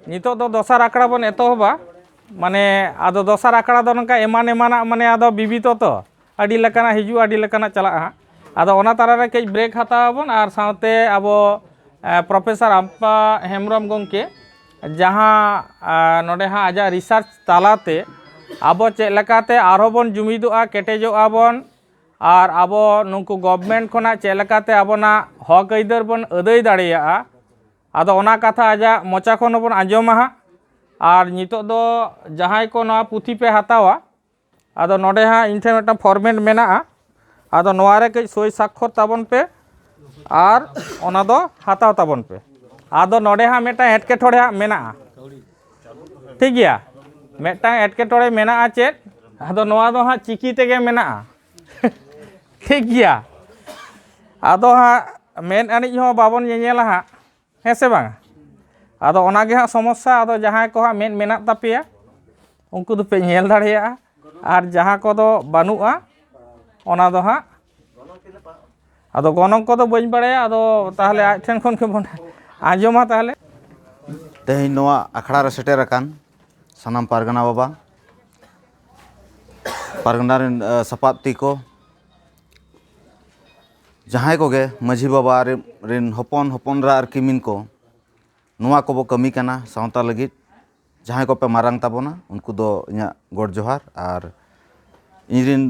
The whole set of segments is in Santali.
ᱱᱤᱛᱚᱜ ᱫᱚ ᱫᱚᱥᱟᱨ ᱟᱠᱷᱲᱟ ᱵᱚᱱ ᱮᱛᱚᱦᱚᱵᱟ ᱢᱟᱱᱮ ᱟᱫᱚ ᱫᱚᱥᱟᱨ ᱟᱠᱷᱲᱟ ᱫᱚ ᱱᱚᱝᱠᱟ ᱮᱢᱟᱱ ᱮᱢᱟᱱᱟᱜ ᱢᱟᱱᱮ ᱟᱫᱚ ᱵᱤᱵᱤᱛᱚ ᱛᱚ ᱟᱹᱰᱤ ᱞᱮᱠᱟᱱᱟᱜ ᱦᱤᱡᱩᱜᱼᱟ ᱟᱹᱰᱤ ᱞᱮᱠᱟᱱᱟᱜ ᱪᱟᱞᱟᱜᱼᱟ ᱦᱟᱸᱜ ᱟᱫᱚ ᱚᱱᱟ ᱛᱟᱞᱟᱨᱮ ᱠᱟᱹᱡ ᱵᱨᱮᱠ ᱦᱟᱛᱟᱣ ᱟᱵᱚᱱ ᱟᱨ ᱥᱟᱶᱛᱮ ᱟᱵᱚ ᱯᱨᱚᱯᱷᱮᱥᱚᱨ ᱟᱢᱯᱟ ᱦᱮᱢᱵᱨᱚᱢ ᱜᱚᱢᱠᱮ ᱡᱟᱦᱟᱸ ᱱᱚᱰᱮ ᱦᱟᱸᱜ ᱟᱡᱟᱜ ᱨᱤᱥᱟᱨᱪ ᱛᱟᱞᱟᱛᱮ ᱟᱵᱚ ᱪᱮᱫ ᱞᱮᱠᱟᱛᱮ ᱟᱨᱦᱚᱸ ᱵᱚᱱ ᱡᱩᱢᱤᱫᱚᱜᱼᱟ ᱠᱮᱴᱮᱡᱚᱜᱼᱟ ᱵᱚᱱ ᱟᱨ ᱟᱵᱚ ᱱᱩᱠᱩ ᱜᱚᱵᱷᱢᱮᱱᱴ ᱠᱷᱚᱱᱟᱜ ᱪᱮᱫ ᱞᱮᱠᱟᱛᱮ ᱟᱵᱚᱱᱟᱜ ᱦᱚᱸᱠ ᱟᱹᱭᱫᱟᱹᱨ ᱵᱚᱱ ᱟᱹᱫᱟᱹᱭ ᱫᱟᱲᱮᱭᱟᱜᱼᱟ ᱟᱫᱚ ᱚᱱᱟ ᱠᱟᱛᱷᱟ ᱟᱡᱟᱜ ᱢᱚᱪᱟ ᱠᱷᱚᱱ ᱦᱚᱸᱵᱚᱱ ᱟᱸᱡᱚᱢᱟ ᱦᱟᱸᱜ ᱟᱨ ᱱᱤᱛᱚᱜ ᱫᱚ ᱡᱟᱦᱟᱸᱭ ᱠᱚ ᱱᱚᱣᱟ ᱯᱩᱛᱷᱤ ᱯᱮ ᱦᱟᱛᱟᱣᱟ ᱟᱫᱚ ᱱᱚᱰᱮ ᱦᱟᱸᱜ ᱤᱧ ᱴᱷᱮᱱ ᱢᱤᱫᱴᱟᱝ ᱯᱷᱚᱨᱢᱮᱴ ᱢᱮᱱᱟᱜᱼᱟ ᱟᱫᱚ ᱱᱚᱣᱟ ᱨᱮ ᱠᱟᱹᱡ ᱥᱳᱭ ᱥᱟᱠᱠᱷᱚᱨ ᱛᱟᱵᱚᱱ ᱯᱮ ᱟᱨ ᱚᱱᱟ ᱫᱚ ᱦᱟᱛᱟᱣ ᱛᱟᱵᱚᱱ ᱯᱮ ᱟᱫᱚ ᱱᱚᱰᱮ ᱦᱟᱸᱜ ᱢᱤᱫᱴᱟᱝ ᱮᱴᱠᱮᱴᱚᱬᱮ ᱦᱟᱸᱜ ᱢᱮᱱᱟᱜᱼᱟ ᱴᱷᱤᱠ ᱜᱮᱭᱟ ᱢᱤᱫᱴᱟᱝ ᱮᱴᱠᱮᱴᱚᱬᱮ ᱢᱮᱱᱟᱜᱼᱟ ᱪᱮᱫ ᱟᱫᱚ ᱱᱚᱣᱟ ᱫᱚ ᱦᱟᱸᱜ ᱪᱤᱠᱤ ᱛᱮᱜᱮ ᱢᱮᱱᱟᱜᱼᱟ ᱴᱷᱤᱠ ᱜᱮᱭᱟ ᱟᱫᱚ ᱦᱟᱸᱜ ᱢᱮᱫ ᱟᱹᱱᱤᱡ ᱦᱚᱸ ᱵᱟᱵᱚᱱ ᱧᱮᱧᱮᱞᱟ ᱦᱟᱸᱜ ᱦᱮᱸ ᱥᱮ ᱵᱟᱝ ᱟᱫᱚ ᱚᱱᱟᱜᱮ ᱦᱟᱸᱜ ᱥᱚᱢᱚᱥᱥᱟ ᱟᱫᱚ ᱡᱟᱦᱟᱸᱭ ᱠᱚ ᱦᱟᱸᱜ ᱢᱮᱫ ᱢᱮᱱᱟᱜ ᱛᱟᱯᱮᱭᱟ ᱩᱱᱠᱩ ᱫᱚᱯᱮ ᱧᱮᱞ ᱫᱟᱲᱮᱭᱟᱜᱼᱟ ᱟᱨ ᱡᱟᱦᱟᱸ ᱠᱚᱫᱚ ᱵᱟᱹᱱᱩᱜᱼᱟ ᱚᱱᱟ ᱫᱚ ᱦᱟᱸᱜ ᱟᱫᱚ ᱜᱚᱱᱚᱝ ᱠᱚᱫᱚ ᱵᱟᱹᱧ ᱵᱟᱲᱟᱭᱟ ᱟᱫᱚ ᱛᱟᱦᱚᱞᱮ ᱟᱡ ᱴᱷᱮᱱ ᱠᱷᱚᱱ ᱜᱮᱵᱚᱱ ᱟᱸᱡᱚᱢᱟ ᱛᱟᱦᱚᱞᱮ ᱛᱮᱦᱮᱧ ᱱᱚᱣᱟ ᱟᱠᱷᱲᱟ ᱨᱮ ᱥᱮᱴᱮᱨ ᱟᱠᱟᱱ ᱥᱟᱱᱟᱢ ᱯᱟᱨᱜᱟᱱᱟ ᱵᱟᱵᱟ ᱯᱟᱨᱜᱟᱱᱟ ᱨᱮᱱ ᱥᱟᱯᱟᱵ ᱛᱤᱠᱚ ᱡᱟᱦᱟᱸᱭ ᱠᱚᱜᱮ ᱢᱟᱹᱡᱷᱤ ᱵᱟᱵᱟ ᱨᱮᱱ ᱦᱚᱯᱚᱱ ᱦᱚᱯᱚᱱ ᱮᱨᱟ ᱟᱨ ᱠᱤᱢᱤᱱ ᱠᱚ ᱱᱚᱣᱟ ᱠᱚᱵᱚ ᱠᱟᱹᱢᱤ ᱠᱟᱱᱟ ᱥᱟᱶᱛᱟ ᱞᱟᱹᱜᱤᱫ ᱡᱟᱦᱟᱸᱭ ᱠᱚᱯᱮ ᱢᱟᱨᱟᱝ ᱛᱟᱵᱚᱱᱟ ᱩᱱᱠᱩ ᱫᱚ ᱤᱧᱟᱹᱜ ᱜᱚᱰ ᱡᱚᱦᱟᱨ ᱟᱨ ᱤᱧ ᱨᱮᱱ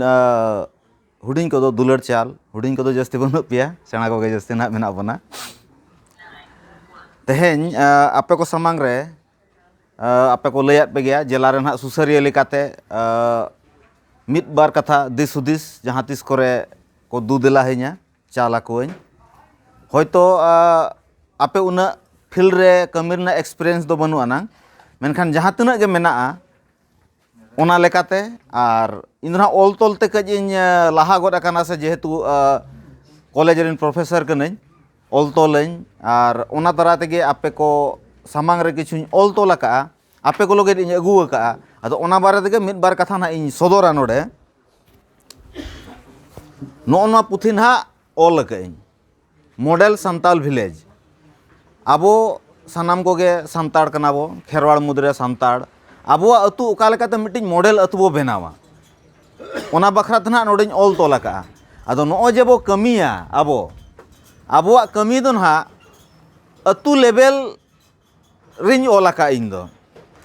ᱦᱩᱰᱤᱧ ᱠᱚᱫᱚ ᱫᱩᱞᱟᱹᱲ ᱪᱟᱞ ᱦᱩᱰᱤᱧ ᱠᱚᱫᱚ ᱡᱟᱹᱥᱛᱤ ᱵᱟᱹᱱᱩᱜ ᱯᱮᱭᱟ ᱥᱮᱬᱟ ᱠᱚᱜᱮ ᱡᱟᱹᱥᱛᱤ ᱱᱟᱦᱟᱜ ᱢᱮᱱᱟᱜ ᱵᱚᱱᱟ ᱛᱮᱦᱮᱧ ᱟᱯᱮ ᱠᱚ ᱥᱟᱢᱟᱝ ᱨᱮ ᱟᱯᱮ ᱠᱚ ᱞᱟᱹᱭᱟᱫ ᱯᱮ ᱜᱮᱭᱟ ᱡᱮᱞᱟ ᱨᱮ ᱱᱟᱦᱟᱜ ᱥᱩᱥᱟᱹᱨᱤᱭᱟᱹ ᱞᱮᱠᱟᱛᱮ ᱢᱤᱫ ᱵᱟᱨ ᱠᱟᱛᱷᱟ ᱫᱤᱥ ᱦᱩᱫᱤᱥ ᱡᱟᱦᱟᱸ ᱛᱤᱥ ᱠᱚᱨᱮ ᱠᱚ ᱫᱩ ᱫᱮᱞᱟ ᱟᱹᱧᱟᱹ ᱪᱟᱞ ᱟᱠᱚᱣᱟᱹᱧ ᱦᱚᱭᱛᱳ ᱟᱯᱮ ᱩᱱᱟᱹᱜ ᱯᱷᱤᱞᱰ ᱨᱮ ᱠᱟᱹᱢᱤ ᱨᱮᱱᱟᱜ ᱮᱠᱥᱯᱨᱤᱭᱮᱱᱥ ᱫᱚ ᱵᱟᱹᱱᱩᱜ ᱟᱱᱟᱝ ᱢᱮᱱᱠᱷᱟᱱ ᱡᱟᱦᱟᱸ ᱛᱤᱱᱟᱹᱜ ᱜᱮ ᱢᱮᱱᱟᱜᱼᱟ ᱚᱱᱟ ᱞᱮᱠᱟᱛᱮ ᱟᱨ ᱤᱧ ᱫᱚ ᱱᱟᱦᱟᱜ ᱚᱞ ᱛᱚᱞ ᱛᱮ ᱠᱟᱹᱡ ᱤᱧ ᱞᱟᱦᱟ ᱜᱚᱫ ᱟᱠᱟᱱᱟ ᱥᱮ ᱡᱮᱦᱮᱛᱩ ᱠᱚᱞᱮᱡᱽ ᱨᱮᱱ ᱯᱨᱚᱯᱷᱮᱥᱚᱨ ᱠᱟᱹᱱᱟᱹᱧ ᱚᱞ ᱛᱚᱞᱟᱹᱧ ᱟᱨ ᱚᱱᱟ ᱫᱟᱨᱟᱭ ᱛᱮᱜᱮ ᱟᱯᱮ ᱠᱚ ᱥᱟᱢᱟᱝ ᱨᱮ ᱠᱤᱪᱷᱩᱧ ᱚᱞ ᱛᱚᱞ ᱟᱠᱟᱫᱼᱟ ᱟᱯᱮ ᱠᱚ ᱞᱟᱹᱜᱤᱫ ᱤᱧ ᱟᱹᱜᱩ ᱟᱠᱟᱫᱼᱟ ᱟᱫᱚ ᱚᱱᱟ ᱵᱟᱨᱮ ᱛᱮᱜᱮ ᱢᱤᱫ ᱵᱟᱨ ᱠᱟᱛᱷᱟ ᱱᱟᱦᱟᱜ ᱤᱧ ᱥᱚᱫᱚᱨᱟ ᱱᱚᱰᱮ ᱱᱚᱜᱼᱚ ᱱᱚᱣᱟ ᱯᱩᱛᱷᱤ ᱱᱟᱦᱟᱜ ᱚᱞ ᱟᱠᱟᱫ ᱟᱹᱧ ᱢᱚᱰᱮᱞ ᱥᱟᱱᱛᱟᱞ ᱵᱷᱤᱞᱮᱡᱽ ᱟᱵᱚ ᱥᱟᱱᱟᱢ ᱠᱚᱜᱮ ᱥᱟᱱᱛᱟᱲ ᱠᱟᱱᱟ ᱵᱚ ᱠᱷᱮᱨᱣᱟᱲ ᱢᱩᱫᱽ ᱨᱮ ᱥᱟᱱᱛᱟᱲ ᱟᱵᱚᱣᱟᱜ ᱟᱹᱛᱩ ᱚᱠᱟ ᱞᱮᱠᱟᱛᱮ ᱢᱤᱫᱴᱤᱡ ᱢᱚᱰᱮᱞ ᱟᱹᱛᱩ ᱵᱚ ᱵᱮᱱᱟᱣᱟ ᱚᱱᱟ ᱵᱟᱠᱷᱨᱟ ᱛᱮ ᱱᱟᱦᱟᱜ ᱱᱚᱰᱮᱧ ᱚᱞ ᱛᱚᱞ ᱟᱠᱟᱫᱼᱟ ᱟᱫᱚ ᱱᱚᱜᱼᱚᱭ ᱡᱮ ᱵᱚ ᱠᱟᱹᱢᱤᱭᱟ ᱟᱵᱚ ᱟᱵᱚᱣᱟᱜ ᱠᱟᱹᱢᱤ ᱫᱚ ᱱᱟᱦᱟᱜ ᱟᱹᱛᱩ ᱞᱮᱵᱮᱞ ᱨᱤᱧ ᱚᱞ ᱟᱠᱟᱫ ᱤᱧ ᱫᱚ